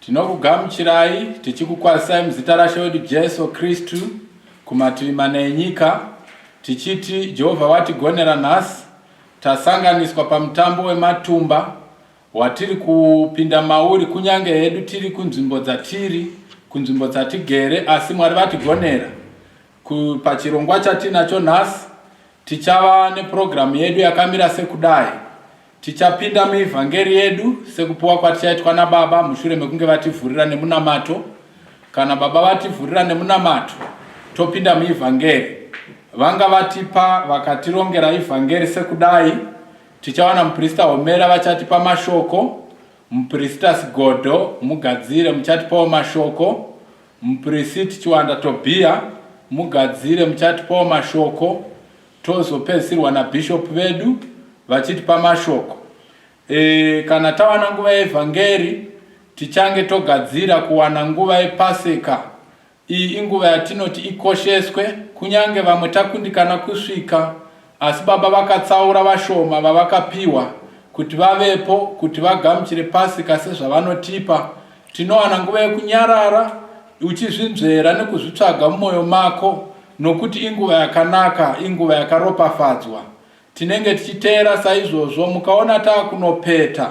Tinokugamuchirai tichikukwazisai muzita raShe wedu Jesu Kristu kumativi mana enyika tichiti Jehovha watigonera nhasi tasanganiswa pamutambo wematumba watiri kupinda mauri kunyange hedu tiri kunzvimbo dzatiri kunzvimbo dzatigere asi Mwari vatigonera pachirongwa chatinacho nhasi Tichava nepurogiramu yedu yakamira sekudai, Tichapinda muevhangeri yedu sekupiwa kwatichaitwa naBaba mushure mekunge vativhurira nemunamato. Kana Baba vativhurira nemunamato, topinda muevhangeri. Vanga vatipa vakatirongera evhangeri sekudai, Tichawana muprista Homera vachatipa mashoko, muprista Sigodo, mugadzire, muchatipawo mashoko, Muprisit Chiwanda Tobia mugadzire muchatipawo mashoko tozopedzisirwa naBishop vedu vachitipa mashoko. E, kana tawana nguva yeevhangeri tichange togadzira kuwana nguva yepaseka. Iyi inguva yatinoti ikosheswe kunyange vamwe takundikana kusvika Asi Baba vakatsaura vashoma vavakapiwa kuti vavepo kuti vagamuchire Pasika sezvavanotipa. Tinowana nguva yekunyarara uchizvinzvera nekuzvitsvaga mumoyo mako nokuti inguva yakanaka, inguva yakaropafadzwa. Tinenge tichiteera saizvozvo mukaona taakunopeta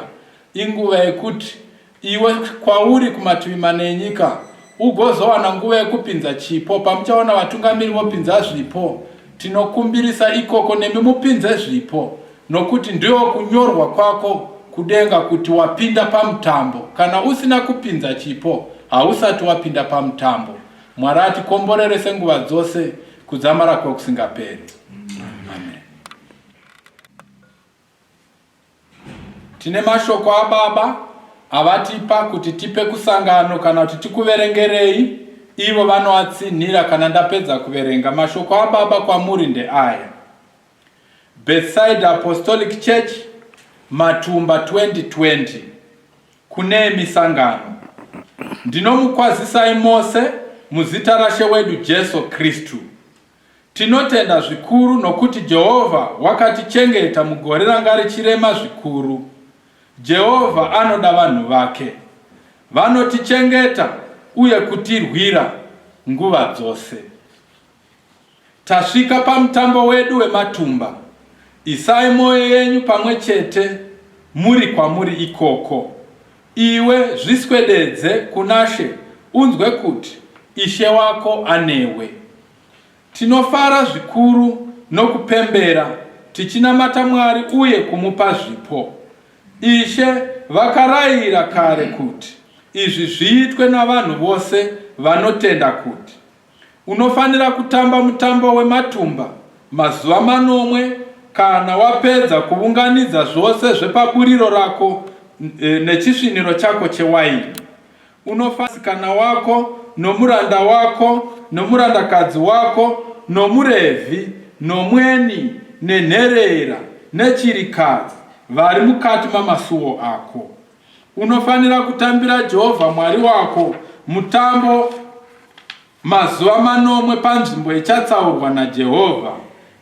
inguva yekuti Iwe kwauri kumativi mana enyika ugozowana nguva yekupinza chipo pamuchaona vatungamiri vopinza zvipo. Tinokumbirisa ikoko nemi mupinze zvipo nokuti ndiwo kunyorwa kwako kudenga kuti wapinda pamutambo. Kana usina kupinza chipo hausati wapinda pamutambo. Mwari atikomborere senguva dzose kudzamara kwokusingaperi. Amen. Tine mashoko ababa avatipa kuti tipe kusangano kana kuti tikuverengerei ivo vanoatsinhira kana ndapedza kuverenga mashoko ababa kwamuri ndeaya bethside apostolic church matumba 2020 kune misangano ndinomukwazisai mose muzita rashe wedu jesu kristu Tinotenda zvikuru nokuti Jehovha wakatichengeta mugore ranga richirema zvikuru. Jehovha anoda vanhu vake. Vanotichengeta uye kutirwira nguva dzose. Tasvika pamutambo wedu wematumba. Isai mwoyo yenyu pamwe chete muri kwamuri ikoko. Iwe zviswededze kunaShe unzwe kuti Ishe wako anewe. Tinofara zvikuru nokupembera tichinamata Mwari uye kumupa zvipo. Ishe vakarayira kare kuti izvi zviitwe navanhu vose vanotenda kuti Unofanira kutamba mutambo wematumba mazuva manomwe kana wapedza kuvunganidza zvose zvepaburiro rako eh, nechisviniro chako chewaini. Unofasikana wako nomuranda wako nomurandakadzi wako nomurevhi nomweni nenherera nechirikadzi vari mukati mamasuwo ako. Unofanira kutambira Jehovha Mwari wako mutambo mazuva manomwe panzvimbo ichatsaurwa naJehovha,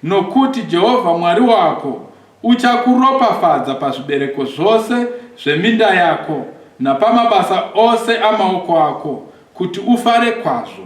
nokuti Jehovha Mwari wako uchakuropafadza pazvibereko zvose zveminda yako napamabasa ose amaoko ako, kuti ufare kwazvo.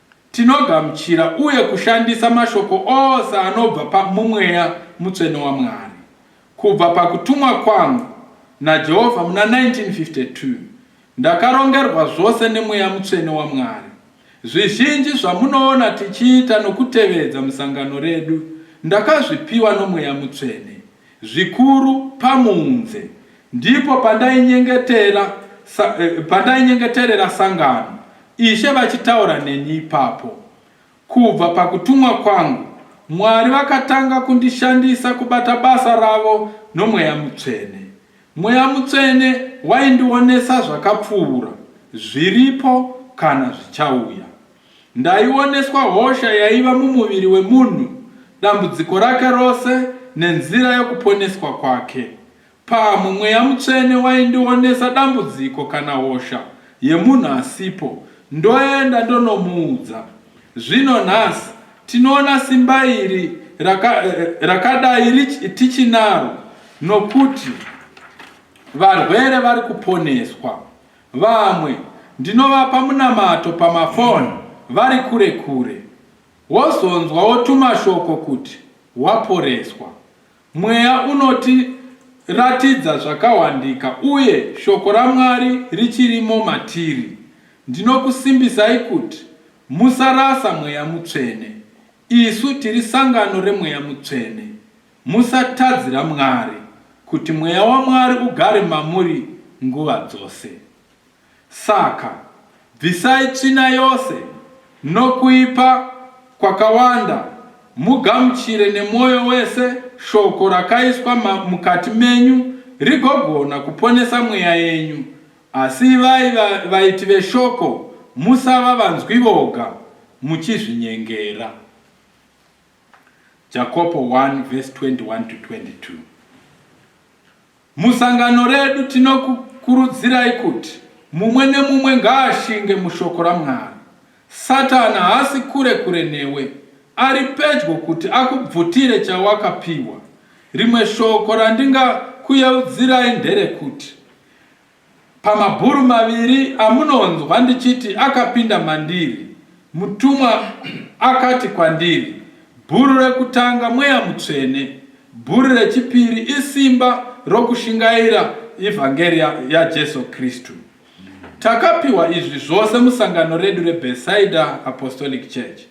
Tinogamuchira uye kushandisa mashoko ose anobva pamumweya mutsvene waMwari. Kubva pakutumwa kwangu naJehovha muna 1952, ndakarongerwa zvose nemweya mutsvene waMwari. Zvizhinji zvamunoona tichiita nokutevedza musangano redu ndakazvipiwa nomweya mutsvene. Zvikuru pamunze ndipo pandainyengetera sa, eh, pandainyengeterera sangano, Ishe vachitaura neni ipapo. Kubva pakutumwa kwangu, Mwari vakatanga kundishandisa kubata basa ravo noMweya Mutsvene. Mweya Mutsvene waindionesa zvakapfuura, zviripo kana zvichauya. Ndaioneswa hosha yaiva mumuviri wemunhu, dambudziko rake rose nenzira yokuponeswa kwake. Pamwe Mweya Mutsvene waindionesa dambudziko kana hosha yemunhu asipo, ndoenda ndonomuudza. Zvino nhasi tinoona simba iri raka, rakadai rich- tichinaro nokuti varwere vari kuponeswa. Vamwe ndinovapa munamato pamaphone vari kure kure wozonzwawo tumashoko kuti waporeswa. Mweya unoti ratidza zvakawandika uye shoko raMwari richirimo matiri. Ndinokusimbisai kuti musarasa Mweya Mutsvene. Isu tiri sangano reMweya Mutsvene. Musatadzira Mwari kuti Mweya waMwari ugare mamuri nguva dzose. Saka, bvisai tsvina yose nokuipa kwakawanda mugamuchire nemwoyo wese Shoko rakaiswa ma, mukati menyu rigogona kuponesa mweya yenyu. Asi ivai va, vaiti veShoko, musava vanzwi voga, muchizvinyengera. Jakopo 1 verse 21 to 22. Musangano redu tinokukurudzirai kuti mumwe nemumwe ngaashinge mushoko raMwari. Satani haasi kure kure newe, ari pedyo kuti akubvutire chawakapiwa. Rimwe shoko randingakuyeudzirai nderekuti Pamabhuru maviri amunonzwa ndichiti akapinda mandiri, mutumwa akati kwandiri, Bhuru rekutanga Mweya Mutsvene, bhuru rechipiri isimba rokushingaira evhangeri yaJesu Kristu. Takapiwa izvi zvose musangano redu reBethsaida Apostolic Church.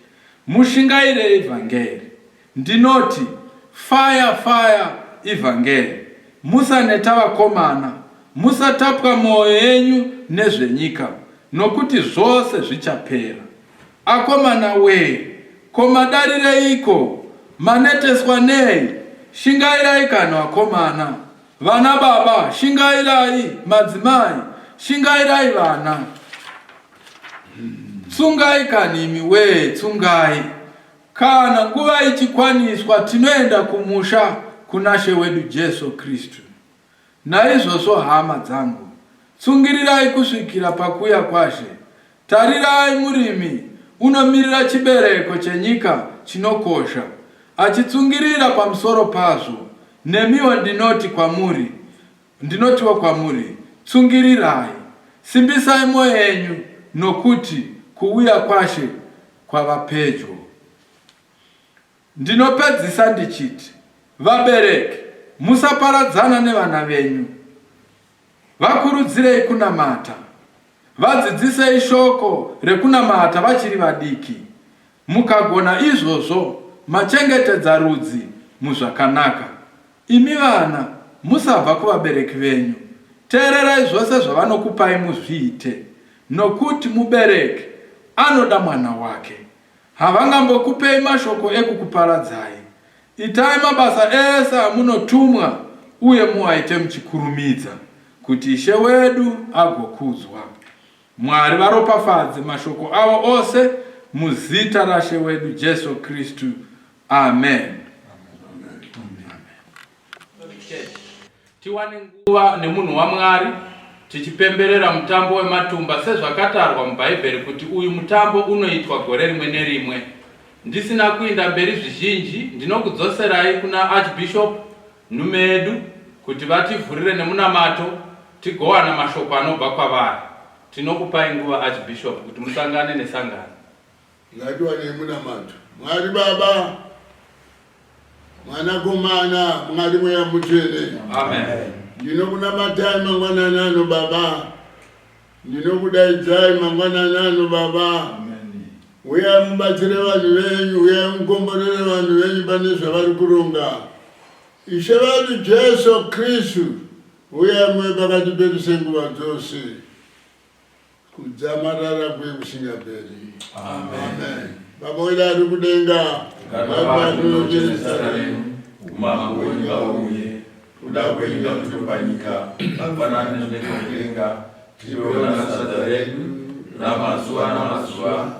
Mushingaire evhangeri. Ndinoti fire fire ivhangeri musaneta vakomana musatapwa moyo yenyu nezvenyika nokuti zvose zvichapera akomana wee ko madarireiko maneteswa nei shingairai kana vakomana vana baba shingairai madzimai shingairai vana tsungai kani imi wee tsungai Kana nguva ichikwaniswa tinoenda kumusha kunaShe wedu Jesu Kristu. Naizvozvo hama dzangu, tsungirirai kusvikira pakuuya kwaShe. Tarirai, murimi unomirira chibereko chenyika chinokosha, achitsungirira pamusoro pazvo. Nemiwo ndinoti kwamuri, Ndinotiwo kwamuri, Tsungirirai, simbisai mwoyo yenyu, nokuti kuuya kwaShe kwava pedyo. Ndinopedzisa ndichiti, Vabereki, musaparadzana nevana venyu. Vakurudzirei kunamata. Vadzidzisei shoko rekunamata vachiri vadiki. Mukagona izvozvo machengetedza rudzi muzvakanaka. Imi vana musabva kuvabereki venyu. Teererai zvose zvavanokupai muzviite nokuti mubereki anoda mwana wake. Havangambokupei mashoko ekukuparadzai. Itai mabasa ese amunotumwa uye muaite muchikurumidza kuti Ishe wedu agokudzwa. Mwari varopafadze mashoko avo ose muzita raShe wedu Jesu Kristu. Amen. Tiwane nguva nemunhu waMwari tichipemberera mutambo wematumba sezvakatarwa muBhaibheri kuti uyu mutambo unoitwa gore rimwe nerimwe. Ndisina kuinda mberi zvizhinji, ndinokudzoserai kuna Archbishop nhume yedu kuti vativhurire nemunamato tigowana mashoko anobva kwavari. Tinokupai nguva Archbishop kuti musangane nesangano. Ngatiwanei munamato. Mwari Baba, Mwanakomana, Mwari Mweya Mutsvene. Amen. Ndinokunamatai mangwanani ano Baba Ndinokudaidzai mangwanani ano Baba. Huyai mubatsire vanhu venyu, huyai mukomborere vanhu venyu pane zvavari kuronga. Ishe vedu Jesu Kristu, huyai muve pakati pedu senguva dzose. Kudzamarara kuye kusingaperi. Amen. Baba wedu ari kudenga, Ngavanocheresa renyu, umambo wenyu ngauye. Kuda kwenyu takutopa nyika hapana nezvekutenga tipewo nasadza redu ramazuva namazuva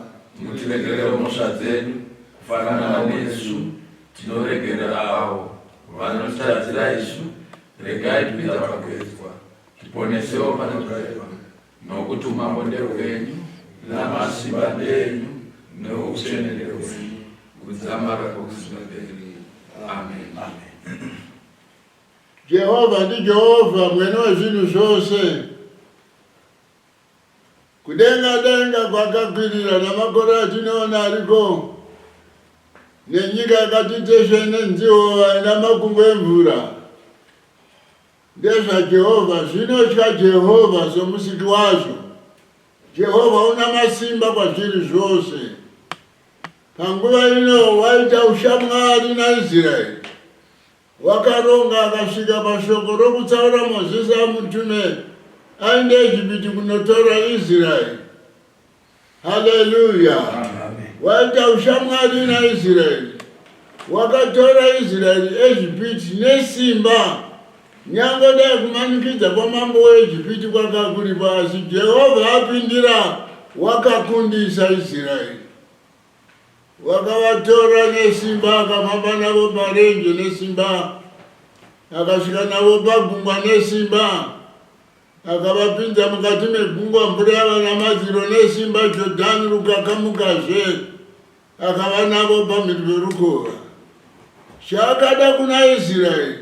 mutiregerero mhosva dzedu kufanana nesu tinoregerera avo vanotitadzira isu regai kuita pakugezwa tiponesewo panogaiwa Nokuti umambo ndehwenyu, namasimba ndenyu, noutsvene ndehwenyu, kudzamara kwokusingaperi. Amen. Amen. Jehovha ndiJehovha mwene wezvinhu zvose. Kudenga denga kwakakwirira namakore atinoona ariko nenyika yakati tesve nenziwo ina makumbo emvura. NdezvaJehovha, zvinotya Jehovha soMusiki wazvo. Jehovha una masimba kwazviri zvose. Panguva ino waita ushamwari naIsraeri. Wakaronga akasvika pashoko rokutsaura Mozisi amutume aende Ejipiti kunotora Israeri. Haleluya! Waita ushamwari naIsraeri, wakatora Israeri Ejipiti nesimba. Nyangwe dai kumanikidza kwamambo weEjipiti kwakakuripa, asi Jehovha apindira, wakakundisa Israeri. Wakavatora nesimba, akafamba navo parenje nesimba, akasvika navo pagungwa nesimba. Akavapinza mukati megungwa, mvura yava namadziro nesimba, Jodhani rukakamukazve, akava navo pamhiri perukova. Chaakada kuna Israeri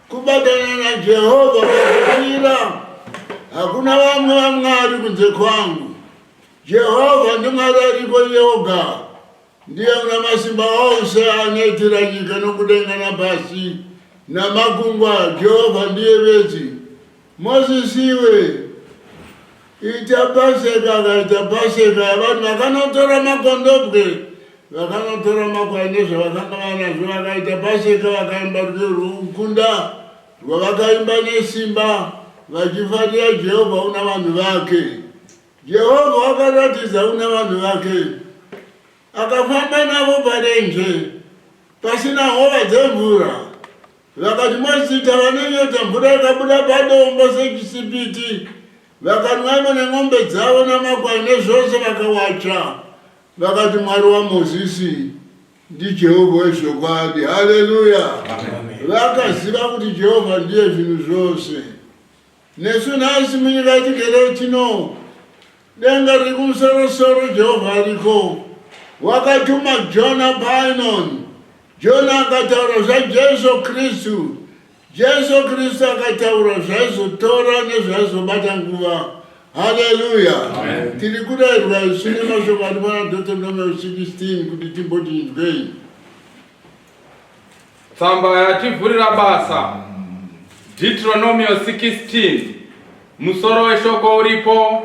kubatana naJehovha pakupira, hakuna vamwe vamwari kunze kwangu. Jehovha ndiMwari aripo iye oga, Ndiye munamasimba ose anoitira nyika nokudenga napasi namakungwa, Jehovha ndiye bedzi. Mozisi iwe, ita paseka. Akaita paseka yavanhu, vakanotora makondobwe, vakanotora makwai nezvavakanga vanazvo, vakaita paseka, vakaimba rwiyo rwokukunda rwavakaimba nesimba, vachifarira Jehovha una vanhu vake. Jehovha akaratidza kuna vanhu vake, akafamba navo parenje pasina hova dzemvura. Vakati mazita vanonyota mvura yakabuda padombo sechisipiti, vakanwaimo nen'ombe dzavo namakwai nezvose vakawatsva. Vakati Mwari waMozisi ndiJehovha wezvokwadi. Haleluya! Vakaziva kuti Jehovha ndiye zvinhu zvose. Nesu nhasi munyika yatigere tino denga riri kumusorosoro Jehovha ariko. Wakatuma Jona painon. Jona akataura zvaJesu Kristu. Jesu Kristu akataura zvaizotora nezvaizobata nguva. Haleluya! Tiri kudaidzwa isu nemashoko ari pana Deuteronomy 16 kuti timbotinzwei. Tsamba yativhurira basa. Deuteronomio 16 musoro weshoko uripo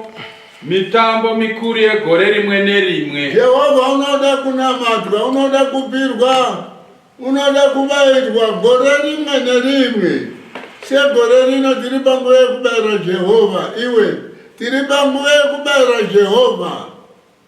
mitambo mikuru yegore rimwe nerimwe jehovha unoda kunamatwa unoda kupirwa unoda kubairwa gore rimwe nerimwe segore rino tiri panguva yekubaira jehovha iwe tiri panguva yekubaira jehovha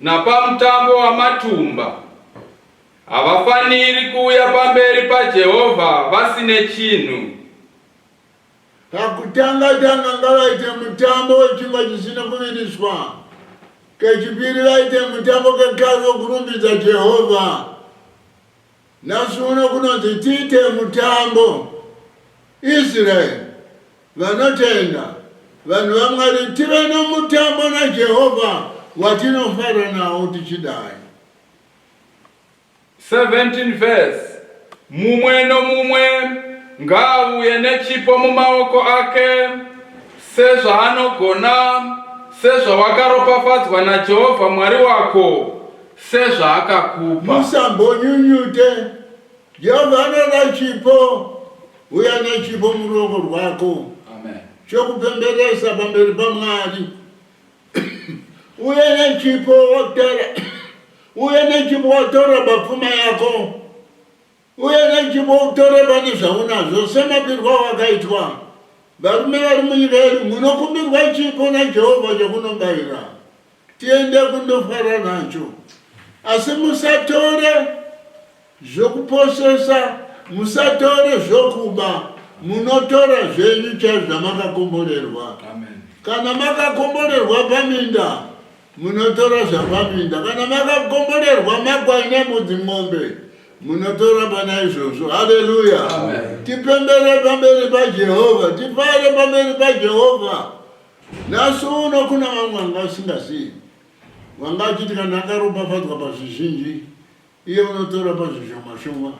Napamutambo wamatumba, havafaniri kuuya pamberi paJehovha vasine chinhu. Pakutanga-tanga ngavaite mutambo wechingwa chisina kuviriswa, kechipiri vaite mutambo kekare wokurumbidza Jehovha. Nhasi uno kunonzi tiite mutambo. Israel vanotenda vanhu vaMwari tive nomutambo naJehovha watinofara nawo tichidai. 17 vhesi Mumwe nomumwe ngaavuye nechipo mumaoko ake, sezvaanogona, sezvawakaropafadzwa naJehovha Mwari wako. sezvaakakupa. Musambonyunyute. Jehovha anoda chipo. Uya nechipo muruoko rwako chokupemberesa pamberi paMwari. Uye nechipo wotora uye nechipo wotora papfuma yako uye nechipo utore pane zvaunazvo semapirwa wakaitwa varume vari munyika yedu munokumbirwa chipo najehovha chokunobayira tiende kundofara nacho asi musatore zvokuposesa musatore zvokuba munotora zvenyu chaizvo zvamakakomborerwa kana makakomborerwa paminda munotora zvapaminda kana makakomborerwa makwai nembudzi mombe munotora pana izvozvo haleluya tipembere pamberi pajehovha tifare pamberi pajehovha Nhasi uno kuna vamwe vanga vasingazivi, vanga vachiti kana akaropafadzwa pazvizhinji, iye unotora pazvishoma shoma.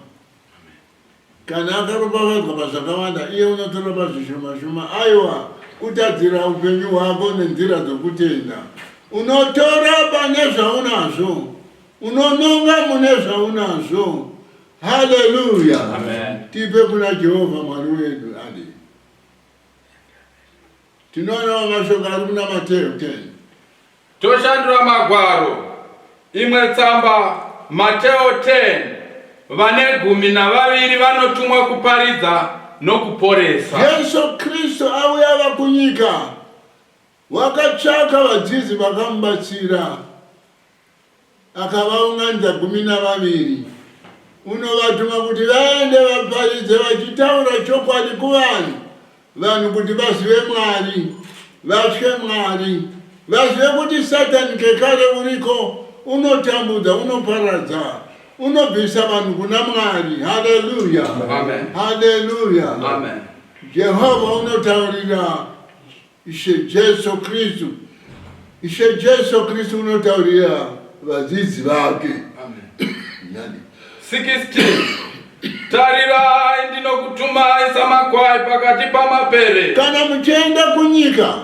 Kana akaropafadzwa pazvakawanda, iye unotora pazvishoma shoma. Aiwa, kutadzira upenyu hwako nenzira dzokutenda, unotora pane zvaunazvo, unononga mune zvaunazvo. Haleluya! Tipe kuna Jehovha Mwari wedu. Tinoonawo mashoko ari kuna Mateo 10. Toshandura magwaro. Imwe tsamba Mateo 10 vane gumi navaviri vanotumwa kuparidza nokuporesa. Jesu Kristu auya ava kunyika. Wakatsvaka vadzidzi vakamubatsira, akavaunganidza gumi navaviri, unovatuma kuti vaende vaparidze vachitaura chokwadi kuvanhu, vanhu kuti vazive Mwari, vatye Mwari, vazive kuti Satani kekare uriko, unotambudza, unoparadza, unobvisa vanhu kuna Mwari. Haleluya, Amen. haleluya. Amen. Jehovha unotaurira Ishe Jesu Kristu, Ishe Jesu Kristu unotaurira vadzidzi vake. Amen. 16 tarirai ndinokutumai samakwai pakati pamapere kana muchienda kunyika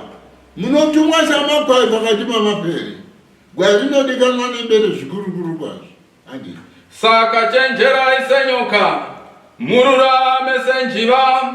munotumwa samakwai pakati pamapere gwai rinodikanwa nembere zvikurukuru kwazvo andi saka chenjerai senyoka mururame senjiva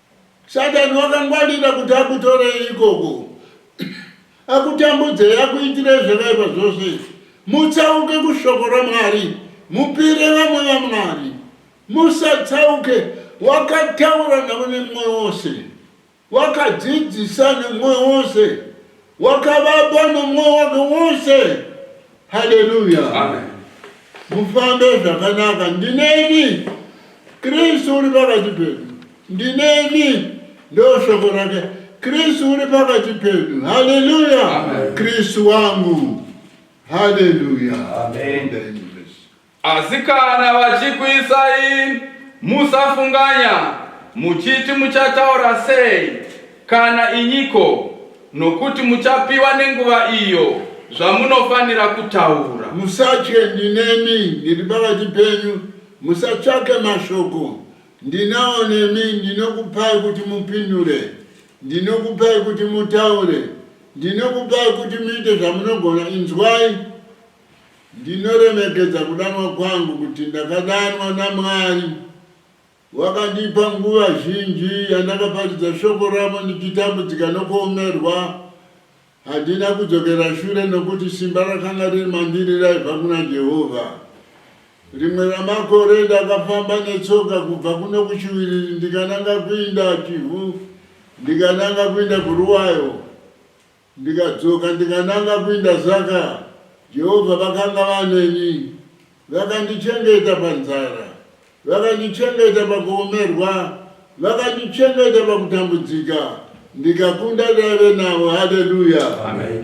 Satani wakangwarira kuti akutorei ikoko, akutambudzei, akuitirei zvakaipa zvose izvi. Mutsauke kushoko raMwari, mupire vamwe vaMwari. Musatsauke, wakataura navo nemwoyo wose, wakadzidzisa nemwoyo wose, wakavapa nomwoyo wake wose, Haleluya. Amen. Mufambe zvakanaka ndinemi. Kristu uri pakati pedu. Ndinemi. Ndo shoko rake. Kristu uri pakati pedu. Haleluya. Kristu wangu. Haleluya. Amen. Amen. Asi kana vachikuisai, musafunganya, muchiti muchataura sei, kana inyiko, nokuti muchapiwa nenguva iyo zvamunofanira kutaura. Musatye, ndinemi, ndiri pakati penyu, musatsvake mashoko, ndinawo nemi, ndinokupai kuti mupindure, ndinokupai kuti mutaure, ndinokupai kuti muite zvamunogona, inzwai, Ndinoremekedza kudanwa kwangu kuti ndakadanwa naMwari. Wakandipa nguva zhinji yandakaparidza shoko ravo ndichitambudzika nokuomerwa. Handina kudzokera shure nokuti simba rakanga riri mandiri raibva kuna Jehovha. Rimwe ramakore ndakafamba netsoka kubva kuno kuchiwiriri ndikananga kuinda Chivhu ndikananga kuinda kuRuwayo. Ndikadzoka ndikananga kuinda saka Jehovha vakanga vaneni. Vakandichengeta panzara, vakandichengeta pakuomerwa, vakandichengeta pakutambudzika ndikakunda ndaive navo. Haleluya!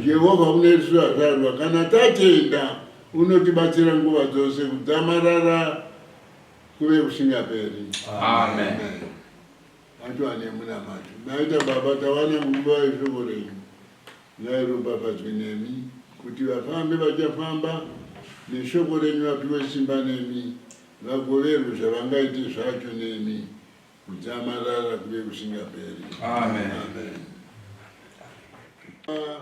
Jehovha mune isu vazvarwa, kana tatenda, unotibatsira nguva dzose kudzamarara kuve kusingaperi. Amen. Atu ane munamato naita baba tawana nguva yeshoko renyu ngairopafadzwe nemi kuti vafambe vachafamba neshoko renyu vapiwe simba nemi vagoverwe zvavangaite zvacho nemi kudzamarara kuve kusingaperi amen, amen. Uh,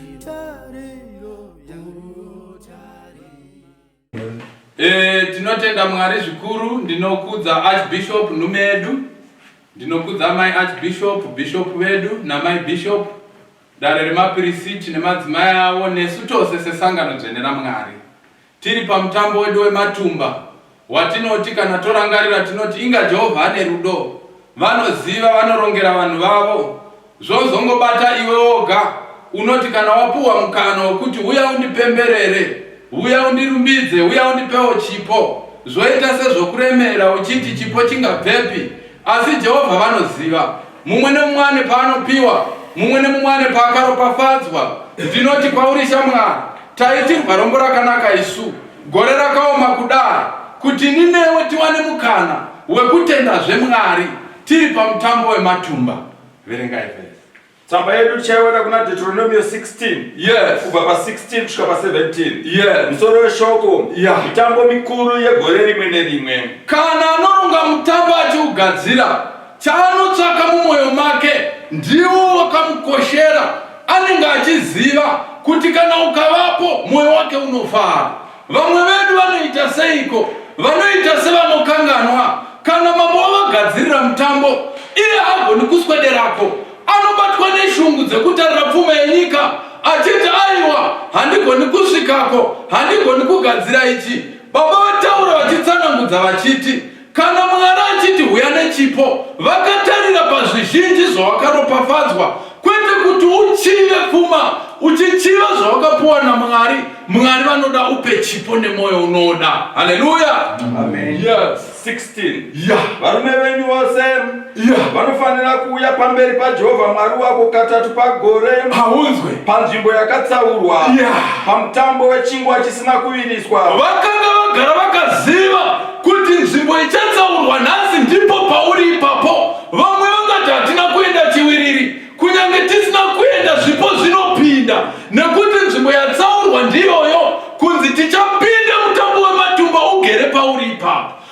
E, tinotenda mwari zvikuru ndinokudza archbishop nhume yedu ndinokudza mai archbishop bishop vedu namai bishop dare remapirisiti nemadzimai avo nesu tose sesangano dzvene ramwari Tiri pamutambo wedu wematumba watinoti kana torangarira tinoti inga Jehovha ane rudo, vanoziva, vanorongera vanhu vavo. Zvozongobata iwe woga unoti kana wapuhwa mukana wokuti huya undipemberere, huya undirumbidze, huya undipewo chipo, zvoita sezvokuremera uchiti chipo chingabvepi? Asi Jehovha vanoziva, mumwe nemumwe ane paanopiwa, mumwe nemumwe ane paakaropafadzwa. Ndinoti kwauri shamwari, taitirwa rombo rakanaka isu, gore rakaoma kudai, kuti ini newe tiwane mukana wekutendazve Mwari tiri pamutambo wematumba. Verengai vese. Tsamba yedu tichaiona kuna Deuteronomio 16. Yes. Kubva pa 16 kusvika pa 17. Yes. Musoro weshoko. Yeah. Mitambo mikuru yegore rimwe nerimwe. Kana anoronga mutambo achiugadzira, chaanotsvaka mumwoyo make ndiwo wakamukoshera. Anenge achiziva kuti kana ukavapo mwoyo wake unofara. Vamwe vedu vanoita seiko? Vanoita sevanokanganwa. Kana mambo wavagadzirira mutambo, iye haagoni kuswederako. Anobatwa neshungu dzekutarira pfuma yenyika achiti aiwa, handigoni kusvikako, handigoni kugadzira ichi. Baba vataura vachitsanangudza vachiti, Kana Mwari achiti huya nechipo, vakatarira pazvizhinji zvawakaropafadzwa, kwete kuti uchive pfuma uchichiva zvawakapuwa naMwari. Mwari vanoda upe chipo nemwoyo unoda. Haleluya! Amen. Yes. 16 Yeah. varume venyu vose Iya, vanofanira kuuya pamberi paJehovha Mwari wako katatu pagore haunzwe panzvimbo yakatsaurwa Iya. pamutambo wechingwa chisina kuviriswa. vakanga vagara vakaziva kuti nzvimbo ichatsaurwa nhasi ndipo pauri ipapo vamwe vangati hatina kuenda chiwiriri kunyange tisina kuenda zvipo zvinopinda nekuti nzvimbo yatsaurwa ndiyoyo kunzi tichapinda mutambo wematumba ugere pauri ipapo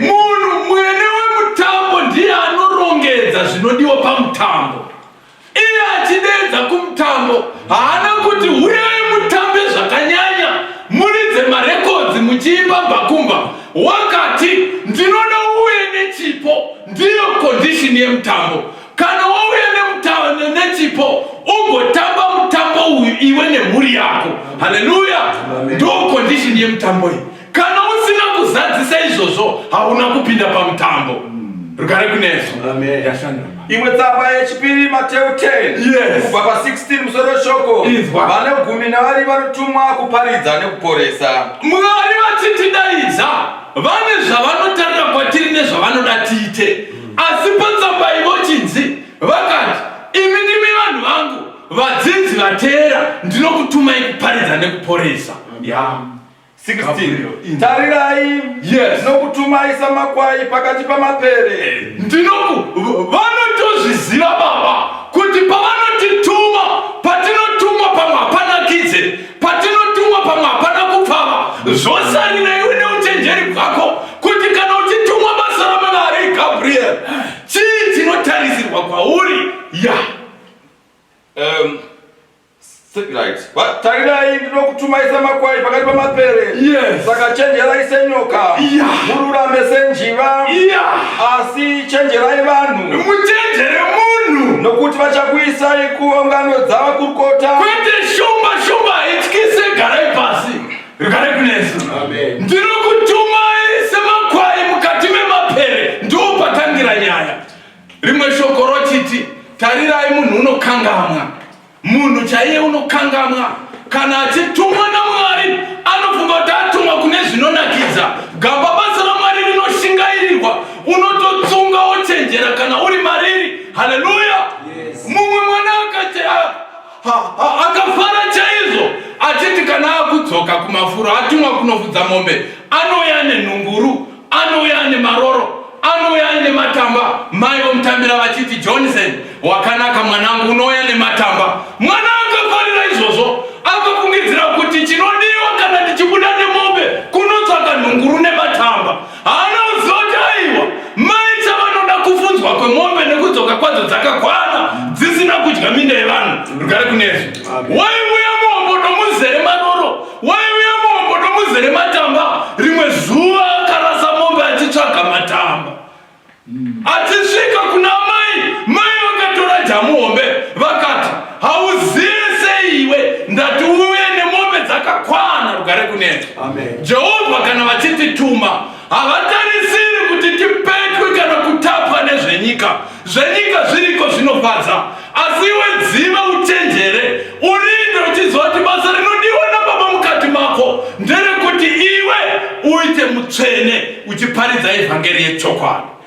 munhu mwene wemutambo ndiye anorongedza zvinodiwa pamutambo iye achideedza kumutambo haana kuti huyai mutambe zvakanyanya muridze marekodzi muchiimba bhakumba wakati ndinoda uye nechipo ndiyo kondishini yemutambo kana wauya nechipo ugotamba mutambo uyu iwe nemhuri yako haleluya ndokondishini yemutambo iyi Kana usina kuzadzisa izvozvo hauna kupinda pamutambo. Rugare kunesu. Amen. Yashandira. imwe tsamba yechipiri mateu 10 Yes. kubva pa16 musoro weshoko Inzwa. vane gumi navari vanotumwa kuparidza nekuporesa Mwari vachitidaidza vane zvavanotarira kwatiri nezvavanoda tiite. Asi patsamba iyi vochinzi vakati, imi ndimi vanhu vangu, vadzidzi vateera, ndinokutumai kuparidza nekuporesa. Yeah. 16 tarirai yes. nokutumai samakwai pakati pamapere ndinoku vanotozviziva baba kuti pavanotituma patinotumwa pamwe hapana kidze patinotumwa pamwe hapana kupfava zvosarirei une uchenjeri bwako kuti kana uchitumwa basa ramanari gabriel chii chinotarisirwa kwauri ya yeah. um, Tarirai ndinokutumaisa makwai pakati pamapere. Yes. Saka chenjerai senyoka. Yeah. Mururame senjiva. Yeah. Asi chenjerai vanhu. Muchenjere munhu. Nokuti vachakuisai kuungano dzavakurukota. Kwete shumba shumba ityise garai pasi. Rugare kunesu. Amen. Ndinokutumai semakwai mukati memapere. Ndoopatangira nyaya. Rimwe shoko rochiti, tarirai munhu unokangamwa. Munhu chaiye unokangamwa kana achitumwa naMwari anofunga kuti atumwa kune zvinonakidza. Gamba basa raMwari rinoshingairirwa, unototsunga wochenjera kana uri mariri. Haleluya! Yes. Mumwe mwana akafara chaizvo achiti kana akudzoka kumafuro atumwa kunofudza mombe anouya nenhunguru anouya ane maroro anouya aine matamba mai vomutambira vachiti johnson wakanaka mwanangu unouya nematamba mwana akafarira izvozvo akafungidzira kuti chinodiwa kana ndichibuda nemombe kunotsvaka nhunguru nematamba haana kuziva kuti aiwa mai chavanoda kufunzwa kwemombe nekudzoka kwadzo dzakakwana dzisina kudya minda yevanhu rugare kunezvi waivuya mombo nomuzere maroro Waiuya mombo nomuzere matamba, rimwe zuva akarasa mombe achitsvaga matamba. Achisvika kuna mai, mai vakatora jamu hombe vakati, Hauzive sei iwe, ndati uve nemombe dzakakwana rugare kunetsa. Jehovha kana vachitituma Havatarisiri kuti tipetwe kana kutapwa nezvenyika. Zvenyika zviriko zvinofadza, asi iwe dziva uchenjere, urinde uchiziva kuti basa rinodiwa naBaba mukati mako nderekuti iwe uite mutsvene uchiparidza evhangeri yechokwadi.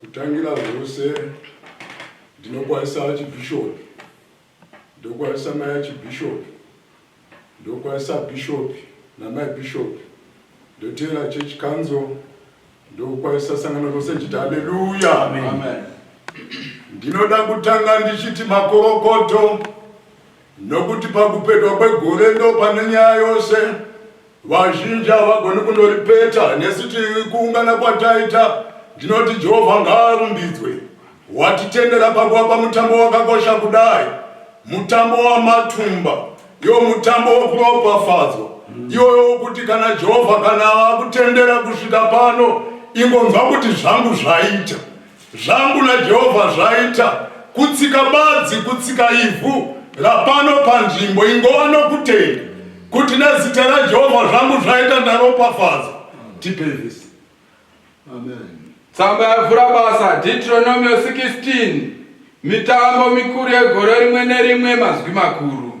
Kutangira zvose ndinokwazisa archbishop ndokwazisa mai archbishop ndokwazisa bishop namai bishop ndoteera church council ndokwazisa sangano rose chiti haleluya ndinoda kutanga ndichiti makorokoto Nokuti pakupetwa kwegore ndopane nyaya yose. Vazhinji havagoni kundoripeta nesu tikuungana kwataita. Ndinoti Jehovha ngaarumbidzwe watitendera pakuvapa mutambo wakakosha kudai, mutambo wamatumba, iwo mutambo wokuropafadzwa iwoyo wokuti kana Jehovha kana akutendera kusvika pano, ingonzwa kuti zvangu zvaita. Zvangu naJehovha zvaita, kutsika badzi, kutsika ivhu rapano panzvimbo, ingova nokutenda kuti nezita raJehovha zvangu zvaita ndaropafadzwa. Tipei vhesi. Amen. Tsamba yavhura basa, Deuteronomio 16, mitambo mikuru yegore rimwe nerimwe, mazwi makuru.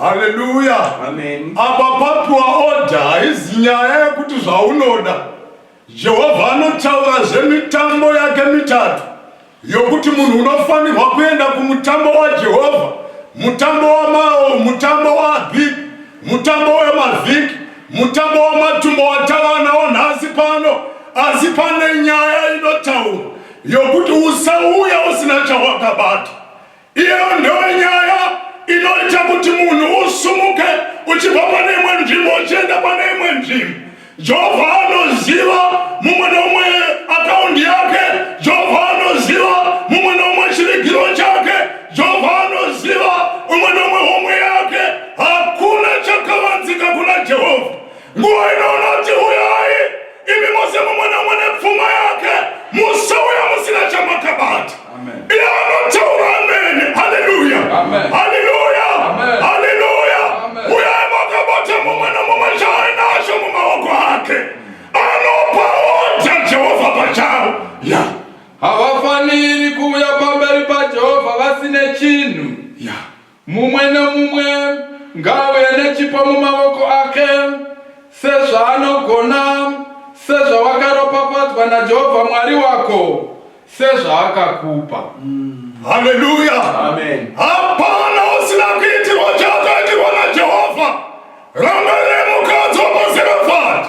haleluya apa papiwa oda haizi nyaya yekuti zvaunoda jehovha anotaura zvemitambo yake mitatu yokuti munhu unofanirwa kuenda kumutambo wajehovha mutambo wamao mutambo waabhiki mutambo wemavhiki mutambo wamatumbo watava nawo nhasi pano asi pane nyaya inotaurwa yokuti usauya usina chawakabata Iyo ndiyo nyaya inoita kuti munhu usumuke uchibva pane imwe nzvimbo uchienda pane imwe nzvimbo. Jehovha anoziva mumwe nomwe akaundi yake. Jehovha anoziva mumwe nomwe chirigiro chake. Jehovha anoziva umwe nomwe homwe yake. Hakuna chakavanzika kuna Jehovha. Nguva ino unoti huyai imi mose mumwe nomwe nepfuma yake musauya musina chamakabata iye anotaura amene haleluya haleluya haleluya uyai makabata mumwe nomumwe chaainacho mumaoko ake anopaodza jehovha pachavo ya havafaniri kuuya pamberi pajehovha vasine chinhu ya Mumwe nemumwe ngaauye nechipo mumavoko ake sezvaanogona, sezvawakaropafadzwa naJehovha Mwari wako, sezvaakakupa. Haleluya! Amen. Hapana usina kuitirwa chaakaitirwa naJehovha. Ramba remukadzo paZerofati.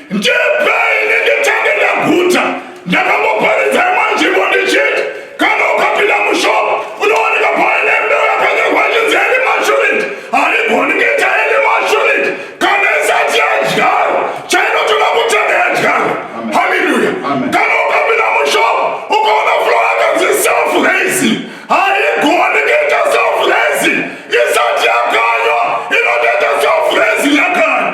Ndipei nditenge ndaguta ndakamboparidza imwe nzvimbo ndichiti kana ukapinda mushop unowanika paine mbeu yakanyorwa chinzi eni mashuriti haigoni kuita eni mashuriti kana isati yadyarwa chainotoda kutanga yadyarwa haleluya kana ukapinda mushop ukaona flo yakanzi self raising haigoni kuita self raising isati yakanywa inotoita self raising yakanywa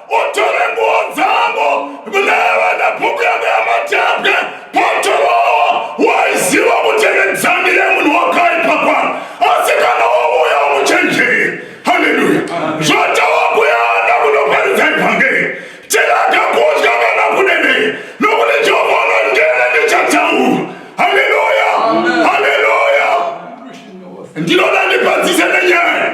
Mutore nguo dzangu mneva nebhuku yangu yamatembwe potorowa waiziva kuti nedzamire munhu wakaipa kwaro asi kana wauya umuchenjeri haleluya zvotawa kuyanda kunoparidza ivhangeri tiraga kudya kana kudedei nokuti jehovha unondere ndichataura haleluya haleluya ndinoda ndipadzise nenyaya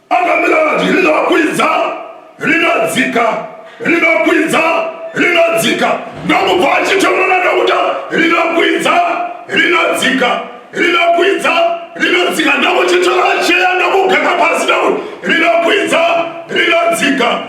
akamira vati rinokwidza rinodzika rinokwidza rinodzika ndokubva achitonona ndokuta rinokwidza rinodzika rinokwidza rinodzika ndokuchitora cheya ndokugaka pasi ndokuti rinokwidza rinodzika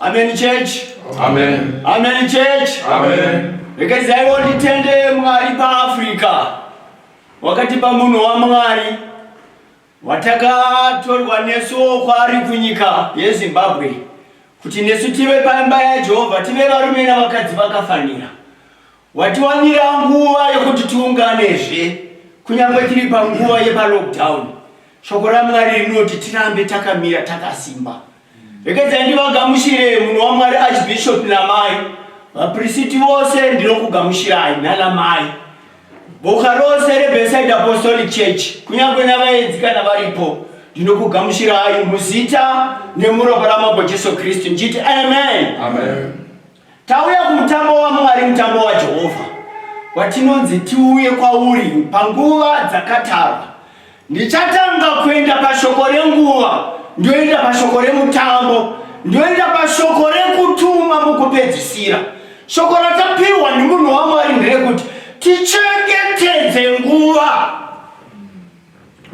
Amen church. Amen. Amen church. Amen. Rekezai wonditende Mwari paAfrica. Wakatipa munhu waMwari watakatorwa nesu kwaari kunyika yeZimbabwe kuti nesu tive paimba yaJehovha tive varume navakadzi vakafanira. Watiwanira nguva yekuti tiunganezve kunyangwe tiri panguva yepalockdown. Shoko raMwari rinoti tirambe takamira takasimba. Regedzai ndivagamuchire munhu waMwari Archbishop namai vapristi vose ndinokugamuchirai nana mai boka rose reBeside Apostolic Church kunyange navaenzi kana varipo ndinokugamuchirai muzita nemuropa raMambo Jesu Kristu ndichiti amen, amen. Tauya kumutambo waMwari, mutambo waJehovha, watinonzi tiuye kwauri panguva dzakatarwa. Ndichatanga kuenda pashoko renguva, ndoenda pashoko remutambo, ndoenda pashoko rekutuma mukupedzisira. Shoko ratapihwa nemunhu waMwari nderekuti tichengetedze nguva.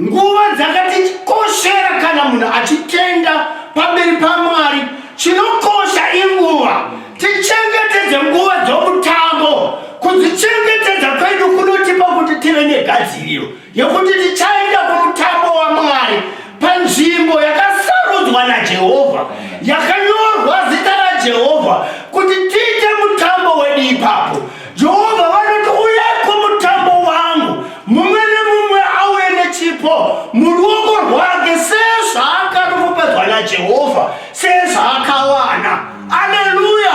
Nguva dzakatikoshera kana munhu achitenda pamberi paMwari. Chinokosha inguva. Tichengetedze nguva dzomutambo. Kudzichengetedza kwedu kunotipa kuti tive negadziriro yekuti tichaenda kumutambo waMwari panzvimbo yakasarudzwa naJehovha, yakanyorwa zita raJehovha kuti tiite mutambo wedu ipapo. Jehovha vanoti, Uyai kumutambo wangu, mumwe nemumwe auye nechipo muruoko rwake sezvaakaropafadzwa naJehovha, sezvaakawana. Aleluya!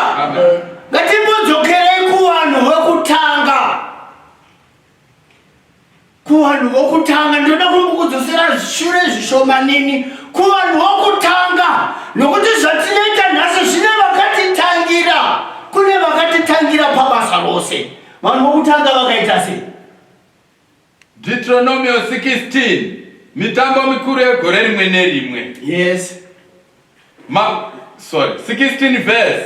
Ngatimbodzokere kuvanhu vekutanga. kuvanhu vokutanga ndinoda kumbokudzosera shure zvishomanini kuvanhu vokutanga nokuti zvatinoita nhasi zvine vakatitangira kune vakatitangira pabasa rose vanhu vokutanga vakaita sei deuteronomio 16 mitambo mikuru yegore rimwe nerimwe yes Ma, sorry 16 verse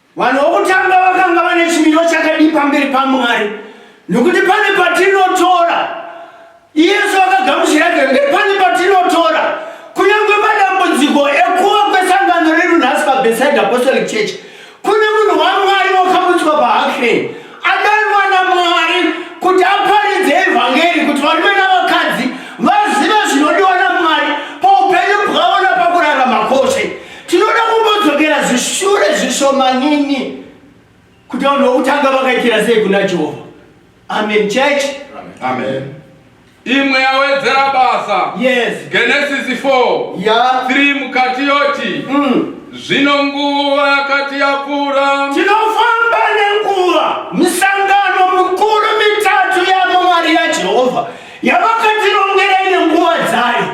Vanhu vokutanga vakanga vane chimiro chakadii pamberi paMwari? Nokuti pane patinotora Yesu akagamuchira kereke, pane patinotora kunyange madambudziko ekuva kwesangano redu nhasi paBeside Apostolic Church. Kune munhu waMwari wakabutswa paAction, adanwa naMwari kuti aparidze evhangeri kuti varume navakadzi vazive zvinodiwa naMwari paupenyu bwavo napakurarama kwose. Tinoda kumbodzokera zvishure zvishomanini kuti vanhu vokutanga vakaitira sei kuna Jehovha. Amen church. Amen. imwe yawedzera basa Yes. genesisi 4 Yeah. 3 mukati yoti Mm. zvino nguva yakati yapfuura Tinofamba nenguva. Misangano mikuru mitatu yavo mari yaJehovha yavakatirongera ine nguva dzayo.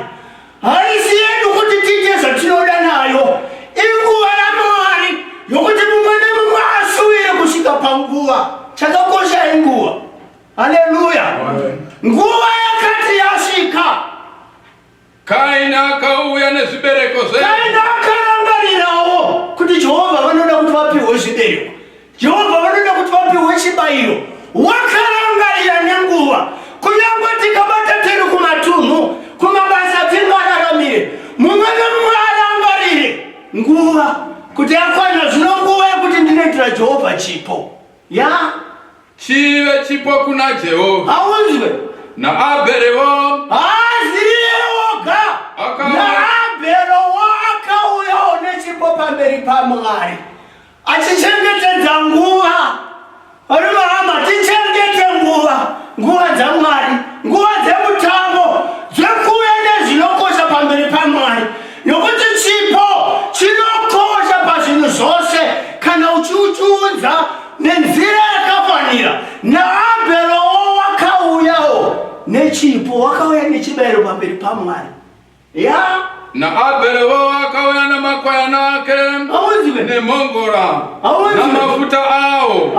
Haisi yedu kuti tiite zvatinoda nayo. Inguva yaMwari yokuti mumwe nemumwe asuvire kusvika panguva. Chakakosha inguva. Haleluya! Nguva yakati yasvika. Kaini akauya nezvibereko zve. Kaini akarangarirawo kuti Jehovha vanoda kuti vapihwe zvibereko. Jehovha vanoda kuti vapihwe chibayiro wakarangarira nenguva kunyange tikabata tiri kumatunhu kumabasa tingararamire mumwe nemumwe arangarire nguva kuti yakwana zvino nguva yekuti ndinoitira jehovha chipo ya yeah. chive chipo kuna jehovha haunzwe naabherewo haziyewoga naabherewo akauyawo nechipo pamberi pamwari achichengetedza nguva vari mahama tichengete nguva nguva dzamwari nguva dzemutambo dzekuuya nezvinokosha pamberi pamwari nokuti chipo chinokosha pazvinhu zvose kana uchiuchiudza nenzira yakafanira naabherowo wakauyawo nechipo wakauya nechibayiro pamberi pamwari Yeah. Naabheri wo akauya namakwayana ake nemhongora namafuta awo.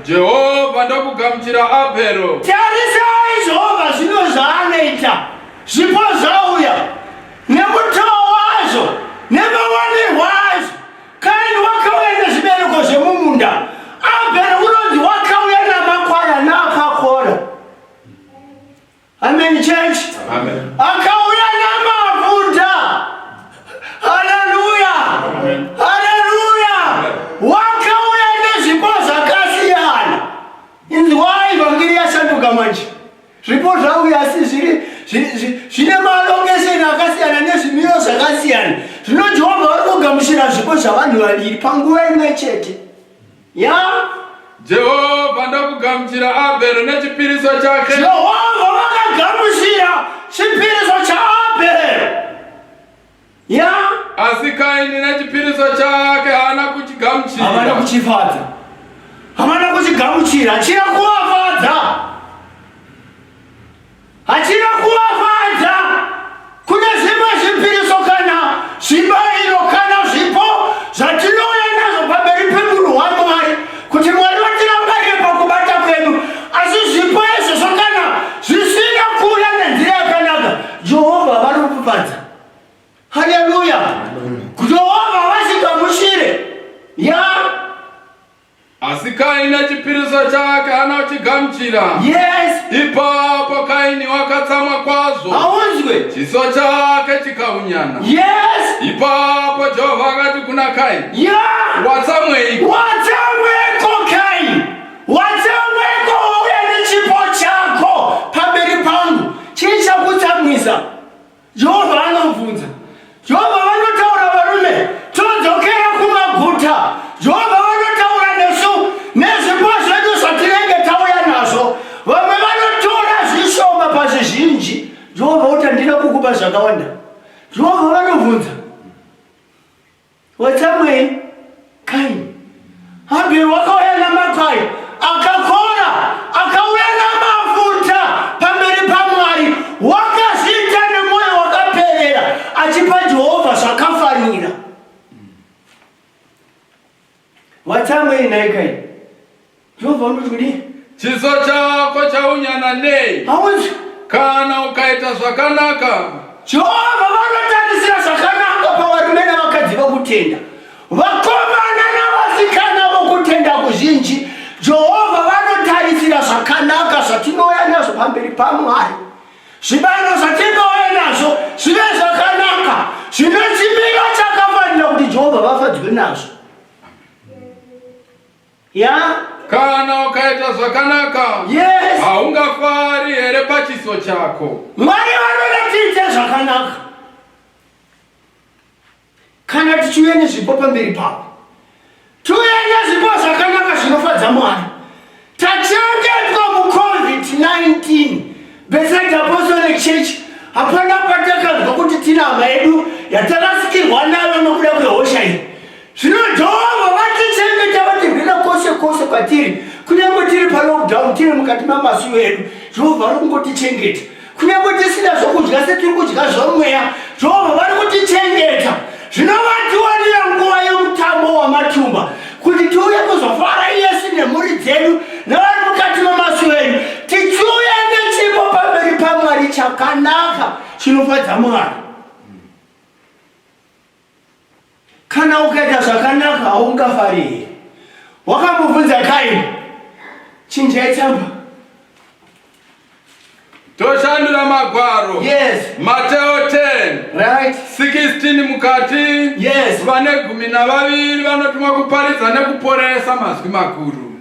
Jehovha ndokugamuchira Abhero. Tarisai Jehovha zvino zvaanoita, zvipo zvauya nemutoo wazvo nemawanirwo azvo. Kaini wakauya nezvibereko zvemumunda, Abhero unonzi wakauya namakwayana akakora. Amen church. Amen. Akauya namavunda. Haleluya. Haleluya. Wakauya nezvipo zvakasiyana. Inzwai vhangeri yasanduka manje. Zvipo zvauya asi zviri zvine malongesheni akasiyana nezvimiro zvakasiyana. Zvino Jehovha ari kugamuchira zvipo zvavanhu vaviri panguva imwe chete. Yaa! Jehovha ndokugamuchira Abheri nechipiriso chake. Jehovha vakagamuchira chipiriso chaAbheri. Yaa! Asi Kaini nechipiriso chake haana Havana kuchigamuchira. kuchifadza. Havana kuchigamuchira. Chiri kuvafadza. Hachina kuvafadza. Kune zvimwe zvipiriso kana zvibairo kana zvipo zvatinouya nazvo pamberi pemuru hwamwari kuti mwari vatirangarire pakubata kwedu asi zvipo izvozvo kana zvisina kuuya nenzira yakanaka jehovha vanokufadza haleluya jehovha vasingamushire ya yeah. Asi Kaini achipirisa chake haana kuchigamuchira. Yes. Ipapo Kaini wakatsamwa kwazvo. Haunzwe. Chiso chake chikaunyana. Yes. Ipapo Jehovha akati kuna Kaini. Yeah. Watsamweiko? Watsamweiko Kaini? Watsamweiko wauya nechipo chako pamberi pangu? Chii chakutsamwisa? Jehovha anobvunza. Jehovha vanotaura varume, todzokera kumaguta. Jehovha vanotaura nesu nezvipo zvedu zvatinenge tauya nazvo. Vamwe vanotora zvishoma pazvizhinji. Jehovha uti handina kukupa zvakawanda. Jehovha vanobvunza. Watsamwei kai Habheri wakauya namakwai akakora akauya namafuta pamberi paMwari wakazviita nemwoyo wakaperera achipa Jehovha zvakafanira. Watsamwei nhai kai? Jehovha unoti kudii? Chiso chako chaunyana nei? Hauzi. Kana ukaita zvakanaka. Jehovha vanotarisira zvakanaka pavarume navakadzi vokutenda. Vakomana navasikana vokutenda kuzhinji, Jehovha vanotarisira zvakanaka zvatinouya nazvo pamberi paMwari. Zvibalo zvatinouya nazvo zvive zvakanaka zvine chimiro chakafanira kuti Jehovha vafadzwe nazvo. Ya? Kana ukaita zvakanaka, yes. haungafari here pachiso chako? Mwari vanoda tiite zvakanaka. Kana tichiuya nezvipo pamberi pavo, tiuya nezvipo zvakanaka zvinofadza Mwari. Tachengetwa muCovid-19, Bethsaida Apostolic Church hapana patakanzwa kuti tina hama yedu yatarasikirwa nayo nokuda kwehosha iyi. Zvino Jehovha vatichengeta vatirwira kwose kwose kwatiri, kunyange tiri palockdown, tiri mukati mamasuo edu, Jehovha ari kungotichengeta. kunyange tisina zvokudya setiri kudya zvomweya jehovha vari kutichengeta zvino vatiwanira nguva yomutambo wamatumba kuti tiuye kuzofara iyesu nemhuri dzedu nevari mukati memasuo edu tichiuya nechipo pamberi pamwari chakanaka chinofadza mwari Kana ukaita zvakanaka haungafari here? Wakambobvunza Kaini, chinjai tsamba. Toshandura magwaro. Yes. Mateo 10. Right. 16 mukati. Yes. Vane gumi navaviri vanotumwa kuparidza nekuporesa mazwi makuru.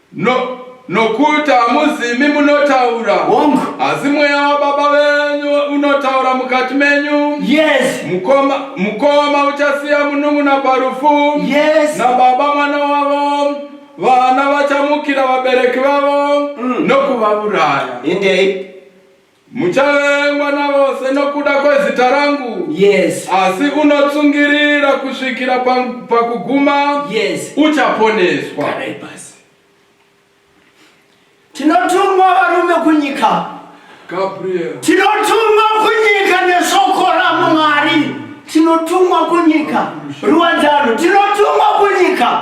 No, nokuti hamuzimi munotaura hongu asi mweya wababa venyu unotaura mukati menyu yes mukoma mukoma uchasiya munun'una parufu yes nababa mwana wavo vana vachamukira vabereki vavo mm. nokuvavuraya indeed Muchavengwa navose nokuda kwezita rangu. Yes. Asi unotsungirira kusvikira pakuguma. Yes. Uchaponeswa. Garai pasi. Tinotumwa varume kunyika. Gabriel. Tinotumwa kunyika neshoko raMwari. Tinotumwa kunyika. Ruwadzano. Tinotumwa kunyika.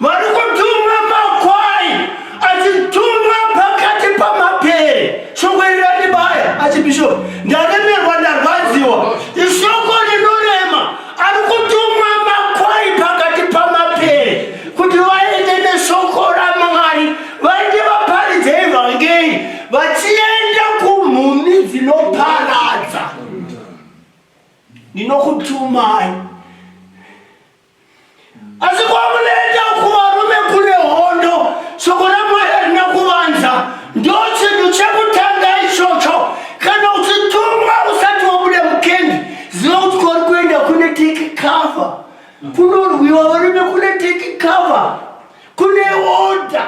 vari kutumwa makwai achitumwa pakati pamapere shoko iri randibaya achibishop ndaremerwa ndarwadziwa ishoko rinorema ari kutumwa makwai pakati pamapere kuti vaende neshoko ramwari vaende vaparidze evhangeri vachienda kumhumhi dzinoparadza ndinokutumai asi kwamunoenda kuvarume kune hondo soko ramwari harina kuvanza ndo chinhu chekutanga ichocho kana uchitumwa usati wabuda mukendi ziva kuti kwauri kuenda kune tiki cover kunorwiwa varume kune tiki cover kune order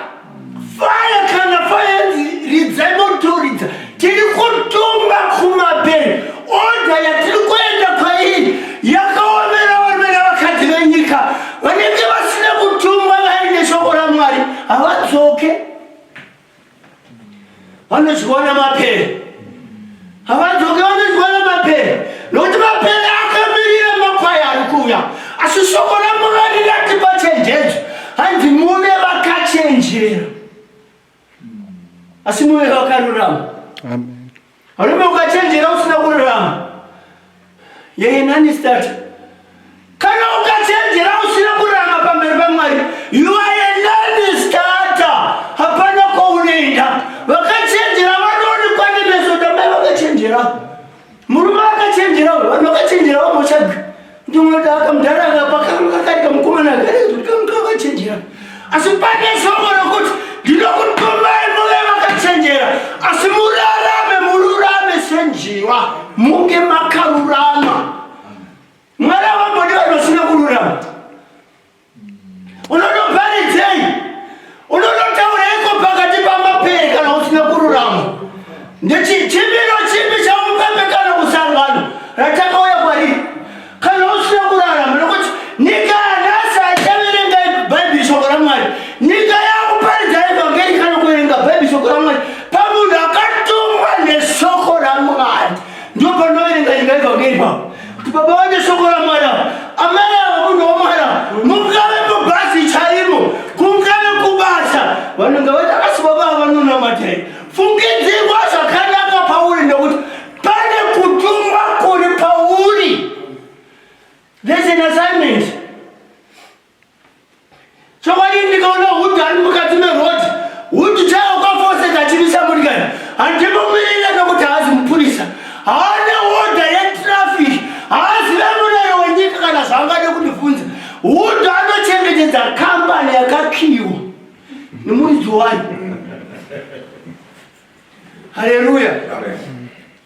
fire kana fire ridzai motoridza tiri kutumba kumabheri order yatiri kuenda kwairi yakaomera vamera vakadzi venyika vanenge vasina kutumwa vaine shoko ramwari havadzoke vanodyiwa nemapere havadzoke vanodyiwa nemapere nokuti mapere akamirira makwai ari kuuya asi shoko ramwari ratipa chenjedzo hanzi muve vakachenjera asi muve vakarurama Varume ukachenjera usina kururama. Yeye nani start? Kana ukachenjera usina kururama pamberi paMwari, you are a nani starter. Hapana kwaunoenda. Vakachenjera vanoonekwa nemeso damai vakachenjera. Murume akachenjera, vanhu vakachenjera vamotsvaga. Ndinoda akamudhara akapa kangu kakarika mukomana akarika kuti kangu kakachenjera. Asi pane shoko rokuti ndinokutumai muve vakachenjera asi murarame mururame senjiva munge makarurama. Mwari avambodi vanhu vasina kururama. unonoparidzei unonotaureiko pakati pamapere kana usina kururama ndechichimiro chipi chaupepe kana kusangano ratakauya kwariri kana usina kurarama nokuti nyika yanhasi haichaverenga bhaibheri shoko ramwari nyika yakuparidza evhangeri kana kuverenga bhaibheri shoko ramwari pamunhu akatumwa neshoko ramwari ndopanoverenga nyika evhangeri pavo Kuti baba vane shoko raMwari ava. Amai ava munhu waMwari ava. Mungave mubhazi chaimo, kungave kubasa. Vanonga vati asi baba ava vanonamata here? Fungidzirwa zvakanaka pauri nekuti pane kutumwa kuri pauri. There's an assignment. Chokwadi ndikaona hudhu ari mukati merodhi, hudhu chaiwo kwafoseka achimisa murikani. Handimumirire nokuti haazi mupurisa, haana hodha yetrafiki, haazive murero wenyika kana zvaangade kundibvunza. Hudhu anochengetedza kambani yakakiyiwa nemuridzi wayo. Haleluya!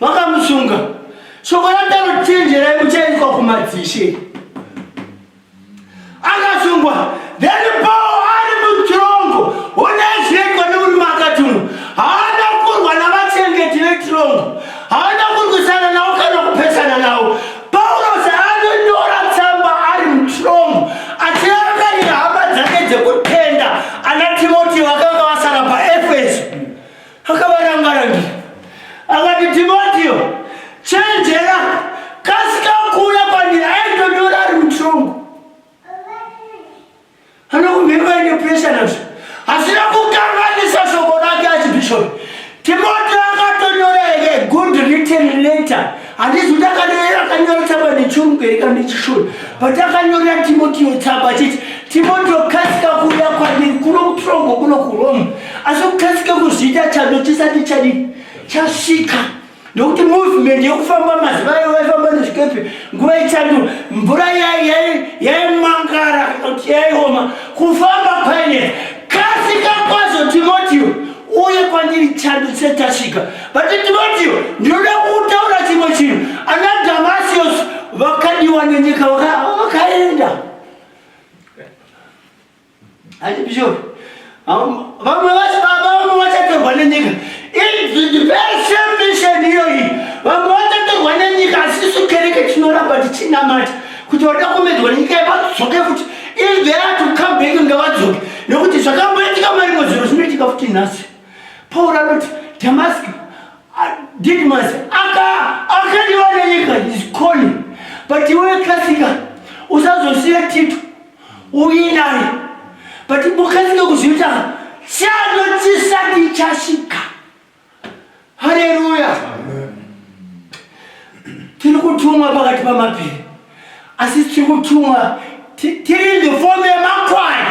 vakamusunga shoko rataro chenjerai muchaiswa kumadzishe akasungwa then paul ari mutirongo unaizvekwa nemurume akati uno haana kurwa navachengeti vetirongo haana kurwisana navo kana kupesana navo paulos anonyora tsamba ari mutirongo achirangarira hama dzake dzekutenda ana timoti vakanga vasara paefeso Akavaranga-rangira akati, Timotiyo, chenjera, kasika kuuya kwandiri. Aitonyora ari mutongo, anokumhemba ine puresha nazvo, asina kukanganisa shoko rake achibhishopi. Timotiyo akatonyora here good written letter Handizi ndakanyorera kanyora tsamba nechirungu here kana nechishona patakanyorera Timotio tsamba chiti Timotio kasika kuuya kwandiri kuno kuTrongo kuno kuRome asi kukasika kuzviita chando chisati chadii chasvika ndokuti movement yekufamba mazuva ayo vaifamba nezvikepe nguva yechando mvura yaimangara kana kuti yaioma kufamba kwainetsa kasika kwazo Timotio uye kwandiri chando chisati chasvika But Timotio, ndinoda kutaura chimwe chinhu. Ana Damasius vakadiwa nenyika vakaenda. Ati bishop, vamwe vasi baba vamwe vachatorwa nenyika. It's the very same mission iyoyi. Vamwe vachatorwa nenyika asi isu kereke tinoramba tichinamata kuti vada kumedzwa nenyika yevadzoke futi. If they are to come back ngavadzoke. Nekuti zvakamboitika marimwe zvinhu zvinoitika futi nhasi. Pauro anoti Damaski Didmas aka akadiwa nenyika is calling but iwe kasika usazosiya Tito uye naye but mukasika kuzviita chando chisati chasvika. Haleluya! Tiri kutumwa pakati pamapiri, asi tiri kutumwa tiri in the form yemakwai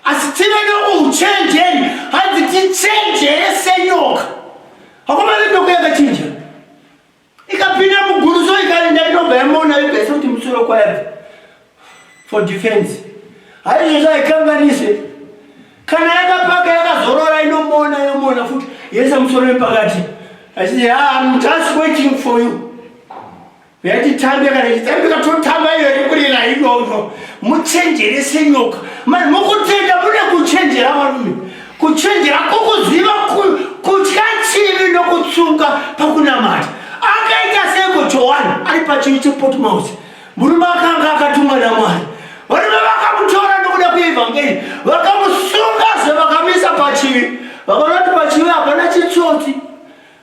asi tive nokuuchenjeri hanzi tichenjere senyoka hakomane nyoko yakachinja ikapinda muguru so ikaenda inobva yamona yogaisa kuti musoro kwayabva for defense haizvozvo haikanganise kana yakapaka yakazorora inomona yomona futi yese musoro wepakati achiti ah, i'm just waiting for you yatitambe kana ichitambika totamba iyo yekurira idondo muchenjere senyoka mani mukutenda mune kuchenjera varume kuchenjera kukuziva kutya chivi nokutsunga pakunamata akaita seko johani ari pachivi chepotmos murume akanga akatumwa namwari varume vakamutora nokuda kweevhangeri vakamusunga zvavakamisa pachivi vakaona kuti pachivi hapana chitsotsi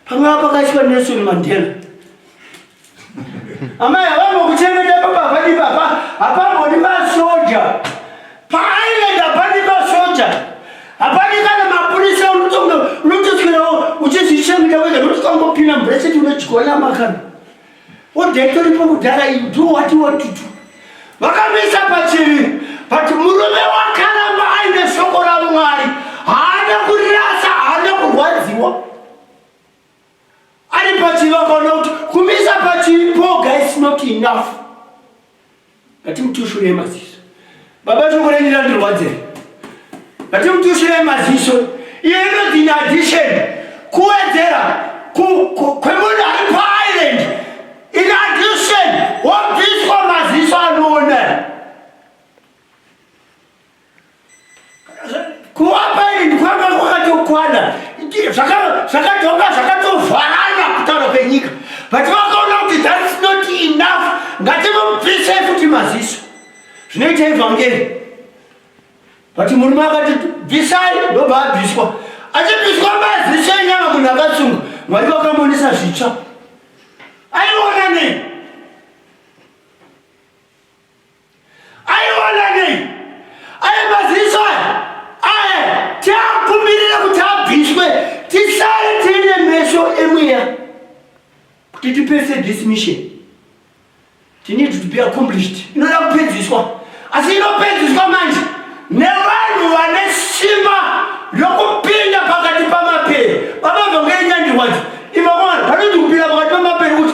pamwe apakaitwa nelson mandela Amai havambo kuchengeta baba padi baba hapambodi masoja paaienda padi masoja hapadi kana mapurisa unotoswerawo uchizvichengeta wega notikangopina mubreseti unochigona makana odetoripo kudhara you do what you want to do vakamisa pachivi but murume wakaramba aine shoko ramwari haana kurasa haana kurwadziwa ari pachiva akaona kuti kumisa pachipoga is not enough ngatimutushurei maziso baba chokurenira ndirwadzei ngatimutushurei maziso iyo inonzi in addition kuwedzera kwemunhu ari paisland in addition wobviswa maziso anoona Kuwapa ini ndikwanga kwakatokwana. Zvakadonga zvakatovharana kutaura kwenyika. But vakaona kuti that's not enough. Ngatinobvise futi maziso. Zvinoita evhangeri. But murume akati bvisai ndobva abviswa. Achibviswa maziso enyama munhu akatsungwa. Mwari vakamonesa zvitsva. Aiona nei? kuti tipese this mission tine to be accomplished inoda kupedziswa asi inopedziswa manje nevanhu vane simba rokupinda pakati pamapere vamabva ngeenyandirwadzo imakomana vanoti kupinda pakati pamapere kuti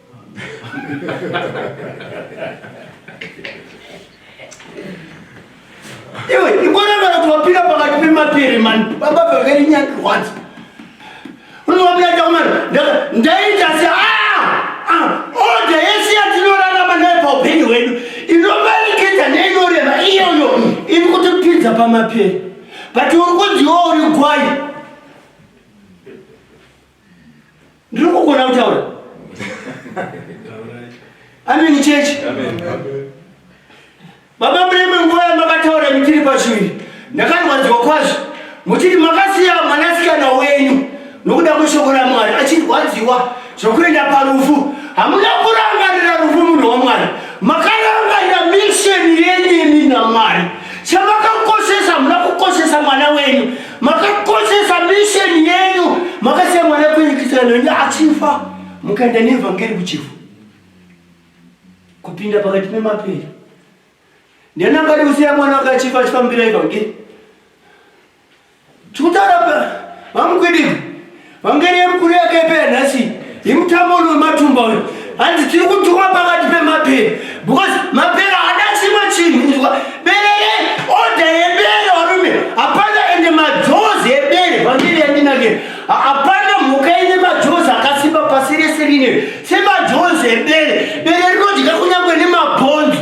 Iwe ikona kana kuti wapinda pakati pemapiri mani baba vakari nyandirwadzi unowapinda chakumana ndaita se ah, ah, oda yese yatinorarama nayo paupenyu hwedu inomanikidza neinorema iyoyo iri kutipinza pamapiri but uri kunziwa uri gwai Ndiri kugona kutaura. Amen church. Amen. Baba mreme nguva yamakataura mitiri pashuviri. Ndakarwadziwa kwazvo. Muchiti makasiya mwanasikana wenyu nokuda kweshoko raMwari achirwadziwa zvokuenda parufu. Hamuna kurangarira rufu munhu waMwari. Makarangarira misheni yenyu imi naMwari. Chamakakoshesa hamuna kukoshesa mwana wenyu. makakoshesa misheni yenyu makasiya mwana kwenyu kisana wenyu achifa mukaenda neevhangeri kuchifu kupinda pakati pemapera ndiani angadi kusiya mwana wake achifa achifambira evhangeri tikutaura vamukwidii Vhangeri yemukuru yakepe yanhasi yemutambo uno wematumba uyo hanzi tiri kutukwa pakati pemapere because mapere haana chimwe chinhu inzwa berere oda yebere varume hapana ende majozi ebere vhangeri yandinakira hapana mhuka ine majozi akasimba pasi rese rine semajozi ebere bere rinodya kunyange nemabhonzo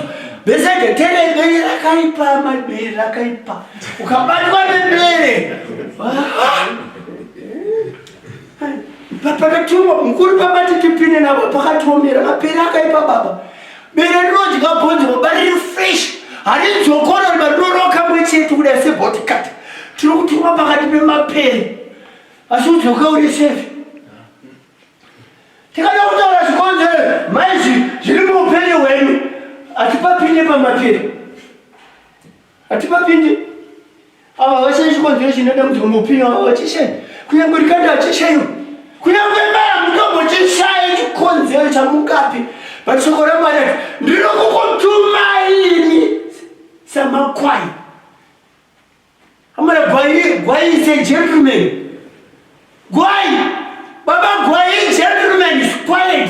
besede tere bere rakaipa mabere rakaipa ukabatwa nebere ah. pakatumwa mukuru pabati tipinde navo pakatiomera mapere akaipa baba bere rinodya bhonzo baba riri fresh harinzokona riba rinoroka mwe chete kudai sebotikati tiri kutumwa pakati pemapere asi udzoka uri sefi tikada kutaura zvikonzero maizvi zviri muupenyu hwenyu hatipapinde pamapere Hatipapindi. Ava vashayi chikonzero chinoda kuti mupinyo ava vachishayi. Kunyangwe rikanda hachishayiwo. Kunyangwe maya mutombo chishayi chikonzero chamukapi. But shoko ramwari ati ndinokukutumai ini samakwai. Amara gwai gwai is a gentleman. Gwai. Baba gwai gentleman is quiet.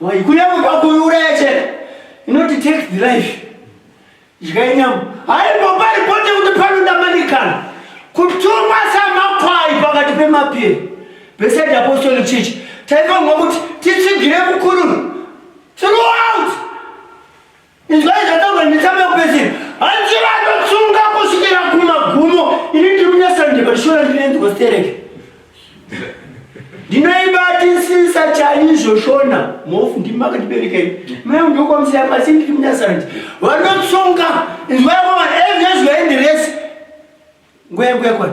Why kunyama kwako uraya chete. Inoti take the life. Idyai nyama. Hayi baba ripote kuti panoda manikana. Kutumwa samakwai pakati pemapiri. Beside apostolic church. Taifanirwa kuti titsigire mukuru. Throughout. Izvai zvataurwa netsamba yokupedzira. Hanzi vanotsunga kusvikira kumagumo. Ini ndiri munyasanje but shona ndinenzwa stereke. Ndinoibatisisa chaizvo shona mofu ndimi makandibereka ini. Mai vangu ndokwamusiya pasi ndiri munyasanje. Vanotsunga izvai mama ezvezvaenderesi. Nguya nguya kwana.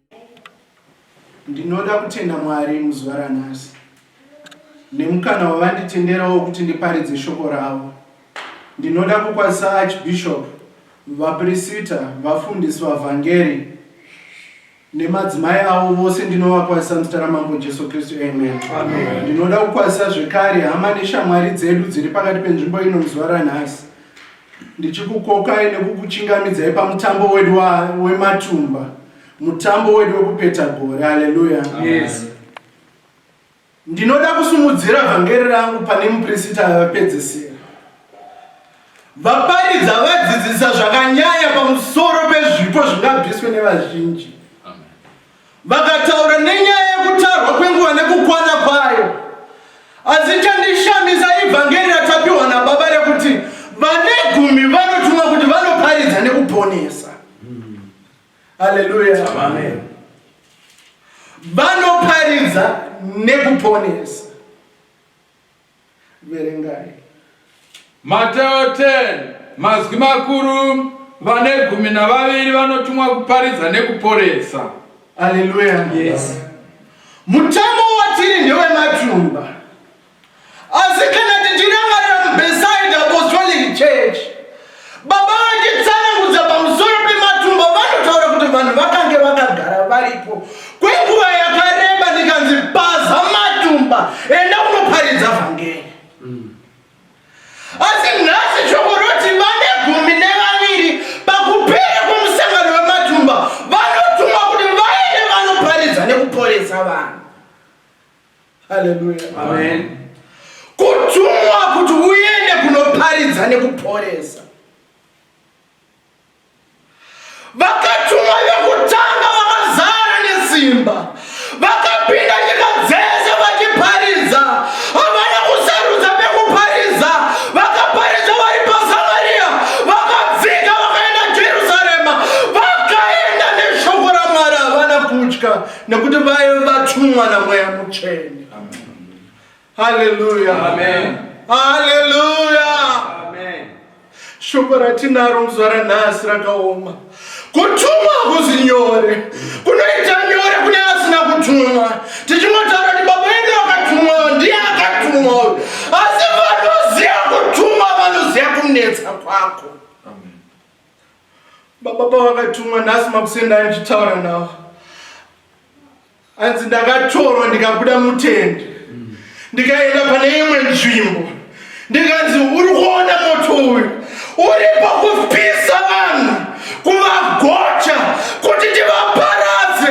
Ndinoda kutenda Mwari muzuva ranhasi nemukana wavanditenderawo kuti ndiparidze shoko ravo. Ndinoda kukwazisa Archbishop, vapirisita, vafundisi, vavhangeri nemadzimai avo vose ndinovakwazisa muzita raMambo Jesu Kristu. Amen. Amen. Ndinoda kukwazisa zvekare hama neshamwari dzedu dziri pakati penzvimbo ino muzuva ranhasi. Ndichikukokai nekukuchingamidzai pamutambo wedu wematumba, mutambo wedu wekupeta gore. Haleluya! Yes. Ndinoda kusumudzira vhangeri rangu pane mupirisita vapedzisira. Vaparidza vadzidzisa zvakanyanya pamusoro pezvipo zvingabviswe nevazhinji. Vakataura nenyaya yekutarwa kwenguva nekukwana kwayo. Asi chandishamisa ivhangeri ratapiwa nababa rekuti vane gumi vanotumwa kuti vanoparidza nekuponesa. Haleluya. Amen. Vanoparidza nekuponesa. Verengai. Mateo 10, Mazwi makuru, Vane gumi navaviri vanotumwa kuparidza nekuporesa. Aleluya. Yes. Mutambo watiri ndewematumba. Asi kana tichirangarira muBeside Apostolic Church, Baba vachitsanangudza pamusoro pematumba vanotaura kuti vanhu vakange vakagara varipo kwenguva yakareba ndikanzi paza matumba enda unoparidza vhangeri asi nhasi shoko roti vane gumi nevaviri pakupera kwemusangano wematumba vanotumwa kuti vaende vanoparidza nekuporesa vanhu haleluya amen kutumwa kuti uende kunoparidza nekuporesa vakatumwa vekutanga vakazara nesimba vakapinda nyika dzese vachiparidza havana kusarudza pekuparidza vakaparidza vari pasamariya vakadzika vakaenda jerusarema vakaenda neshoko ramwari havana kutya nekuti vaye vatumwa namweya mutsvene haleluya haleluya shoko ratinaro muzuva ranhasi rakaoma kutumwa kuzi nyore kunoita nyore kune asina kutumwa tichingotaura kuti baba vedu vakatumwa ndiye akatumwa uyu asi vanoziva kutumwa vanoziva kunetsa kwako Baba pavakatumwa nhasi makuseni ndanga ndichitaura navo hanzi ndakatorwa ndikabuda mutende ndikaenda pane imwe nzvimbo ndikanzi uri kuona moto uyu uri pakupisa vanhu kuvagocha kuti tivaparadze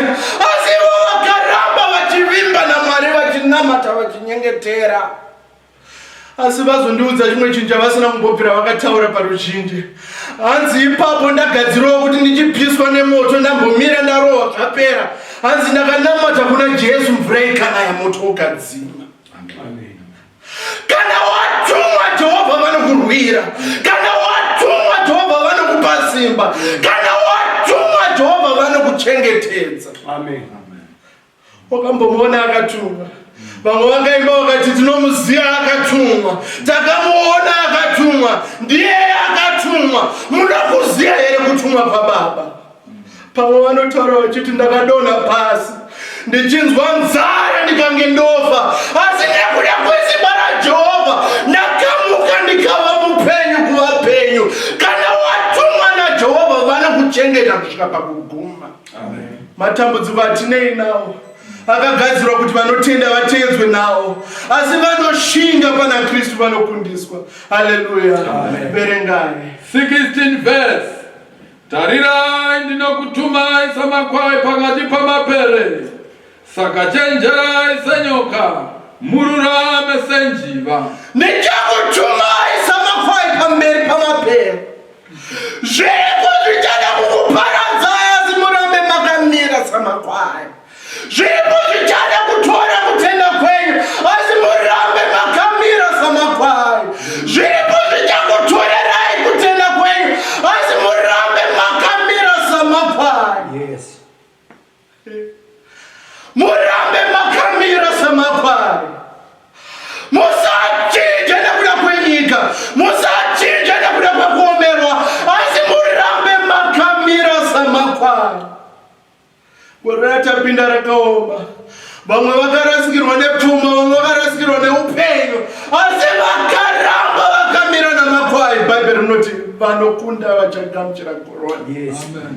asi ivo vakaramba vachivimba namwari vachinamata vachinyengetera asi vazondiudza chimwe chinhu chavasina kumbobvira vakataura paruzhinji hanzi ipapo ndagadzirowa kuti ndichipiswa nemoto ndambomira ndarohwa zvapera hanzi ndakanamata kuna jesu mvura ikanaya moto ukadzima kana watumwa jehovha vanokurwira kana watumwa jehovha vanokupa simba kana watumwa jehovha vanokuchengetedza amen, amen. Wakambomuona akatumwa? Vamwe vakaimba vakati tinomuziva akatumwa, takamuona akatumwa, ndiye akatumwa. Muda kuziva here kutumwa kwaBaba? Pamwe vanotaura vachiti ndakadonha pasi ndichinzwa nzara ndikange ndofa, asi nekuda kwesimba raJehovha ndakamuka ndikava mupenyu kuvapenyu. Kana watumwa naJehovha vanokuchengeta kusvika pakuguma. matambudziko atinei nawo akagadzirwa kuti vanotenda vateedzwe nawo asi vanoshinga pana kristu vanokundiswa haleluya verengai 16 verse tarirai ndinokutumai samakwai pakati pamapere Saka chenjerai senyoka, mururame senjiva. Ndichakutumai samakwai pamberi pamabhero. Zviriko zvichada kukuparadzai asi murambe makamira samakwai. Zviriko zvichada kutora kutenda kwenyu asi murambe makamira samakwai. Zviriko zvichakutorerai kutenda kwenyu asi murambe makamira samakwai. Yes. murambe makamira samakwari musachinje nekuda kwenyika musachinje nekuda kwekuomerwa asi murambe makamira samakwari gore ratapinda rakaoma vamwe vakarasikirwa nepfuma vamwe vakarasikirwa neupenyu asi vakaramba vakamira namakwai bhaibheri rinoti vanokunda vachagamuchira korona yes. Amen.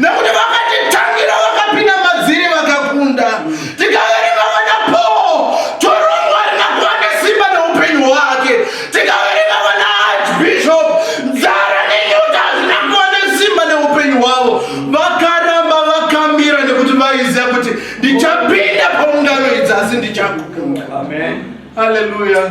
nekuti vakatitangira vakapinda madziri vakakunda tikaverima vana poo torongwa arina kuva nesimba neupenyu hwake tikaverima vana archbishop nzara nenyota hazvina kuva nesimba neupenyu hwavo vakaramba vakamira nekuti vaiziva kuti ndichapinda paungano idzi asi ndichakunda haleluya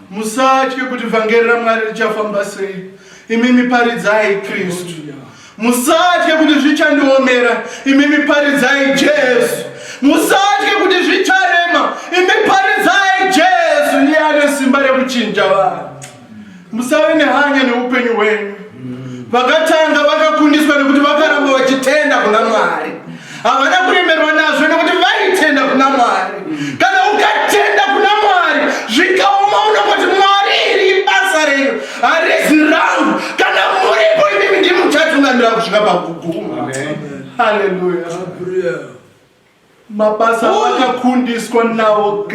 Musatye kuti vhangeri raMwari richafamba sei, imimi paridzai Kristu. Musatye kuti zvichandiomera, imimi paridzai Jesu. Musatye kuti zvicharema, imi paridzai Jesu, iye ane simba rekuchinja vanhu. Musave nehanya neupenyu hwenyu. vakatanga vakakundiswa nekuti vakaramba vachitenda kuna mwari havana kuremerwa nazvo nekuti vaitenda kuna mwari kana ukatenda kuna mwari zvikaoma unongoti mwari iri ibasa renyu harizi rangu kana muripo imimi ndimuchatungamira kusvika pakuguma haleluya mabasa akakundiswa nawo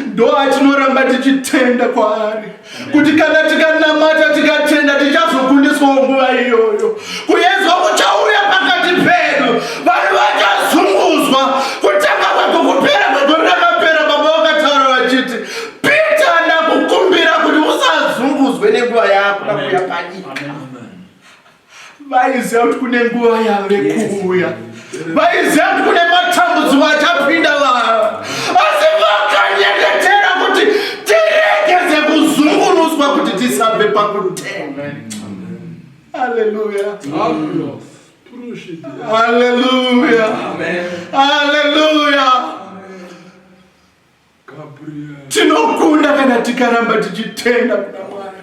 ndo atinoramba tichitenda kwaari kuti kana tikanamata tikatenda tichazokundiswawo nguva iyoyo kuyedzwa kuchauya pakati pedu vanhu vachazunguzwa kutanga kwako kupera kwegore rakapera baba vakataura vachiti pita ndakukumbira kuti usazunguzwe nenguva yako nakuya panyika vaiziva kuti kune nguva yave kuuya vaiziva kuti kune matambudziko achapinda vava asi vakanyengetera kuti tiregeze kuzungunuswa kuti tisabve pakutenga aleluya aleluya aleluya tinokunda kana tikaramba tichitenda kuna mwari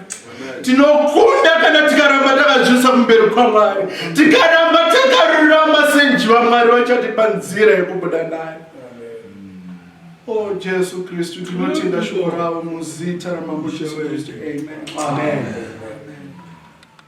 tinokunda kana tikaramba takazvisa kumberi kwamwari tikaramba takarurama senjiva mwari vachatipa nzira yekubuda nayo o oh, jesu kristu tinotenda shoko ravo muzita ramambo jesu kristu amen, amen. amen.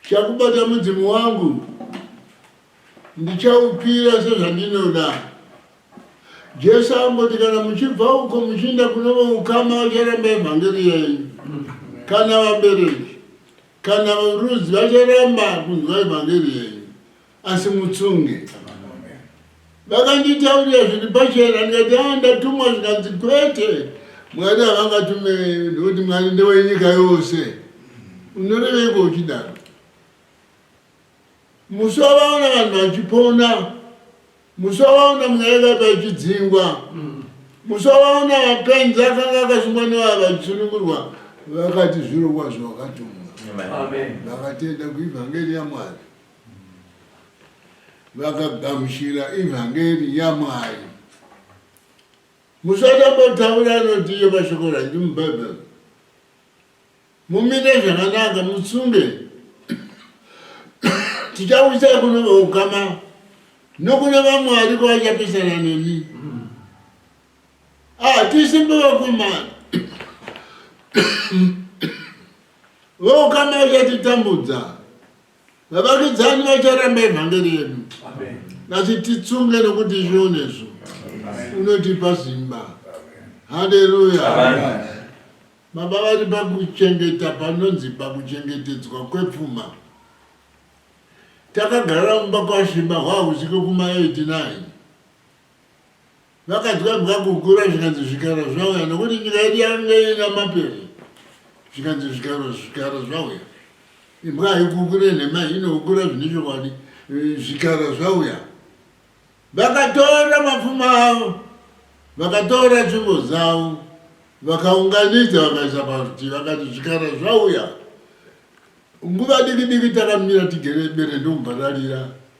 Ndichakubata mudzimu wangu, ndichaupira sezvandinoda. Jesu amboti kana muchibva uko muchiinda kunova ukama vacharamba evhangeri yenyu, kana vabereki kana varudzi vacharamba kunzwa evhangeri yenyu. asi mutsunge vakanditaurira zviri pachena ndikati a ah, ndatumwa zvikanzi kwete mwari havangatume ndokuti mwari ndewenyika yose unoreveiko uchidaro musi wavaona vanhu vachipona musi wavaona mwaivai vachidzingwa musi wavaona vapenzi akanga akasungwa nevaya vachisunungurwa vakati zvirongwa zvavakatumwa vakatenda kuivhangeri yamwari vakagamuchira ivhangeri yamwari musatambotaura anoti iye mashoko ranji mubhaibheri mumite zvakanaka mutsunge tichawisai kune vaukama nokune vamwe ariko vachapesana nemi hatisi ah, mbevakomana vaukama vachatitambudza Vavakidzani vacharamba evhangeri yedu vachititsunga nokuti izvionezvo unotipa simba. Haleluya. Baba vari pakuchengeta panonzi pakuchengetedzwa kwepfuma. Takagara mumba kwaShimba hwahusiko kuma 89. Vakadya vakakukura zvikanzi zvikara zvauya nokuti nyika yedu yange ina mapere zvikanzi zvikara zvikara zvauya imbwa haikukure nhema inokukura zvine chokwadi zvikara zvauya vakatora mapfuma avo vakatora tsvimbo dzavo vakaunganidza vakaisa parutivi vakati zvikara zvauya nguva diki diki takamira tigere bere ndombararira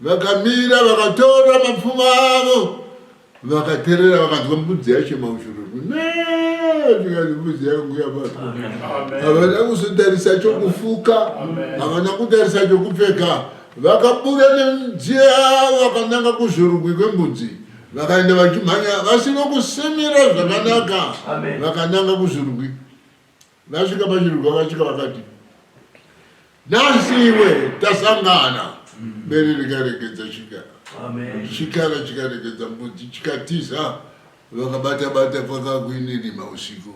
Vakamira vakatora mapfumo avo vakaterera vakanzwa mbudzi yacho maushururu tikati mbudzi yangu yabatwa havana kuzotarisa chokufuka havana kutarisa chokupfeka vakabura nemidziyo yavo vakananga kuzvorugwi kwembudzi vakaenda vachimhanya vasino kusimira zvakanaka vakananga kuzvorugwi Vasvika paChiruga vasvika vakati, nhasi iwe tasangana bere rikaregedza chikara Amen. chikara chikaregedza mbudzi chikatiza vakabata bata paka kuinirima usiku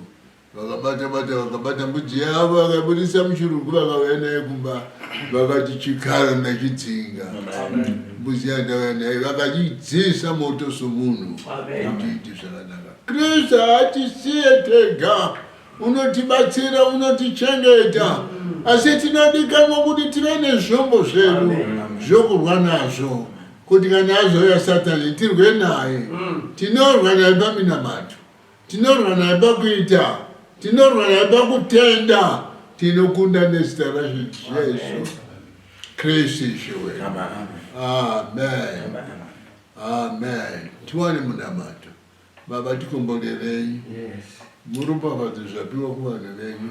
vakabata bata vakabata mbudzi yavo vakabudisa muchirugu vakauya naye kumba vakati chikara ndachidzinga mbudzi yandauya naye vakachidzisa moto somunhu Amen. kuti iite zvakanaka kristu haatisiye tega unotibatsira unotichengeta asi tinodikanwa kuti tive nezvombo zvedu zvokurwa nazvo kuti kana azouya satani tirwe naye mm. tinorwa naye paminamato tinorwa naye pakuita tinorwa naye pakutenda tinokunda nezita rajesu kristu ishowe amen amen tiwane munamato Baba tikomborerei muropafadze zvapiwa kuvanhu venyu.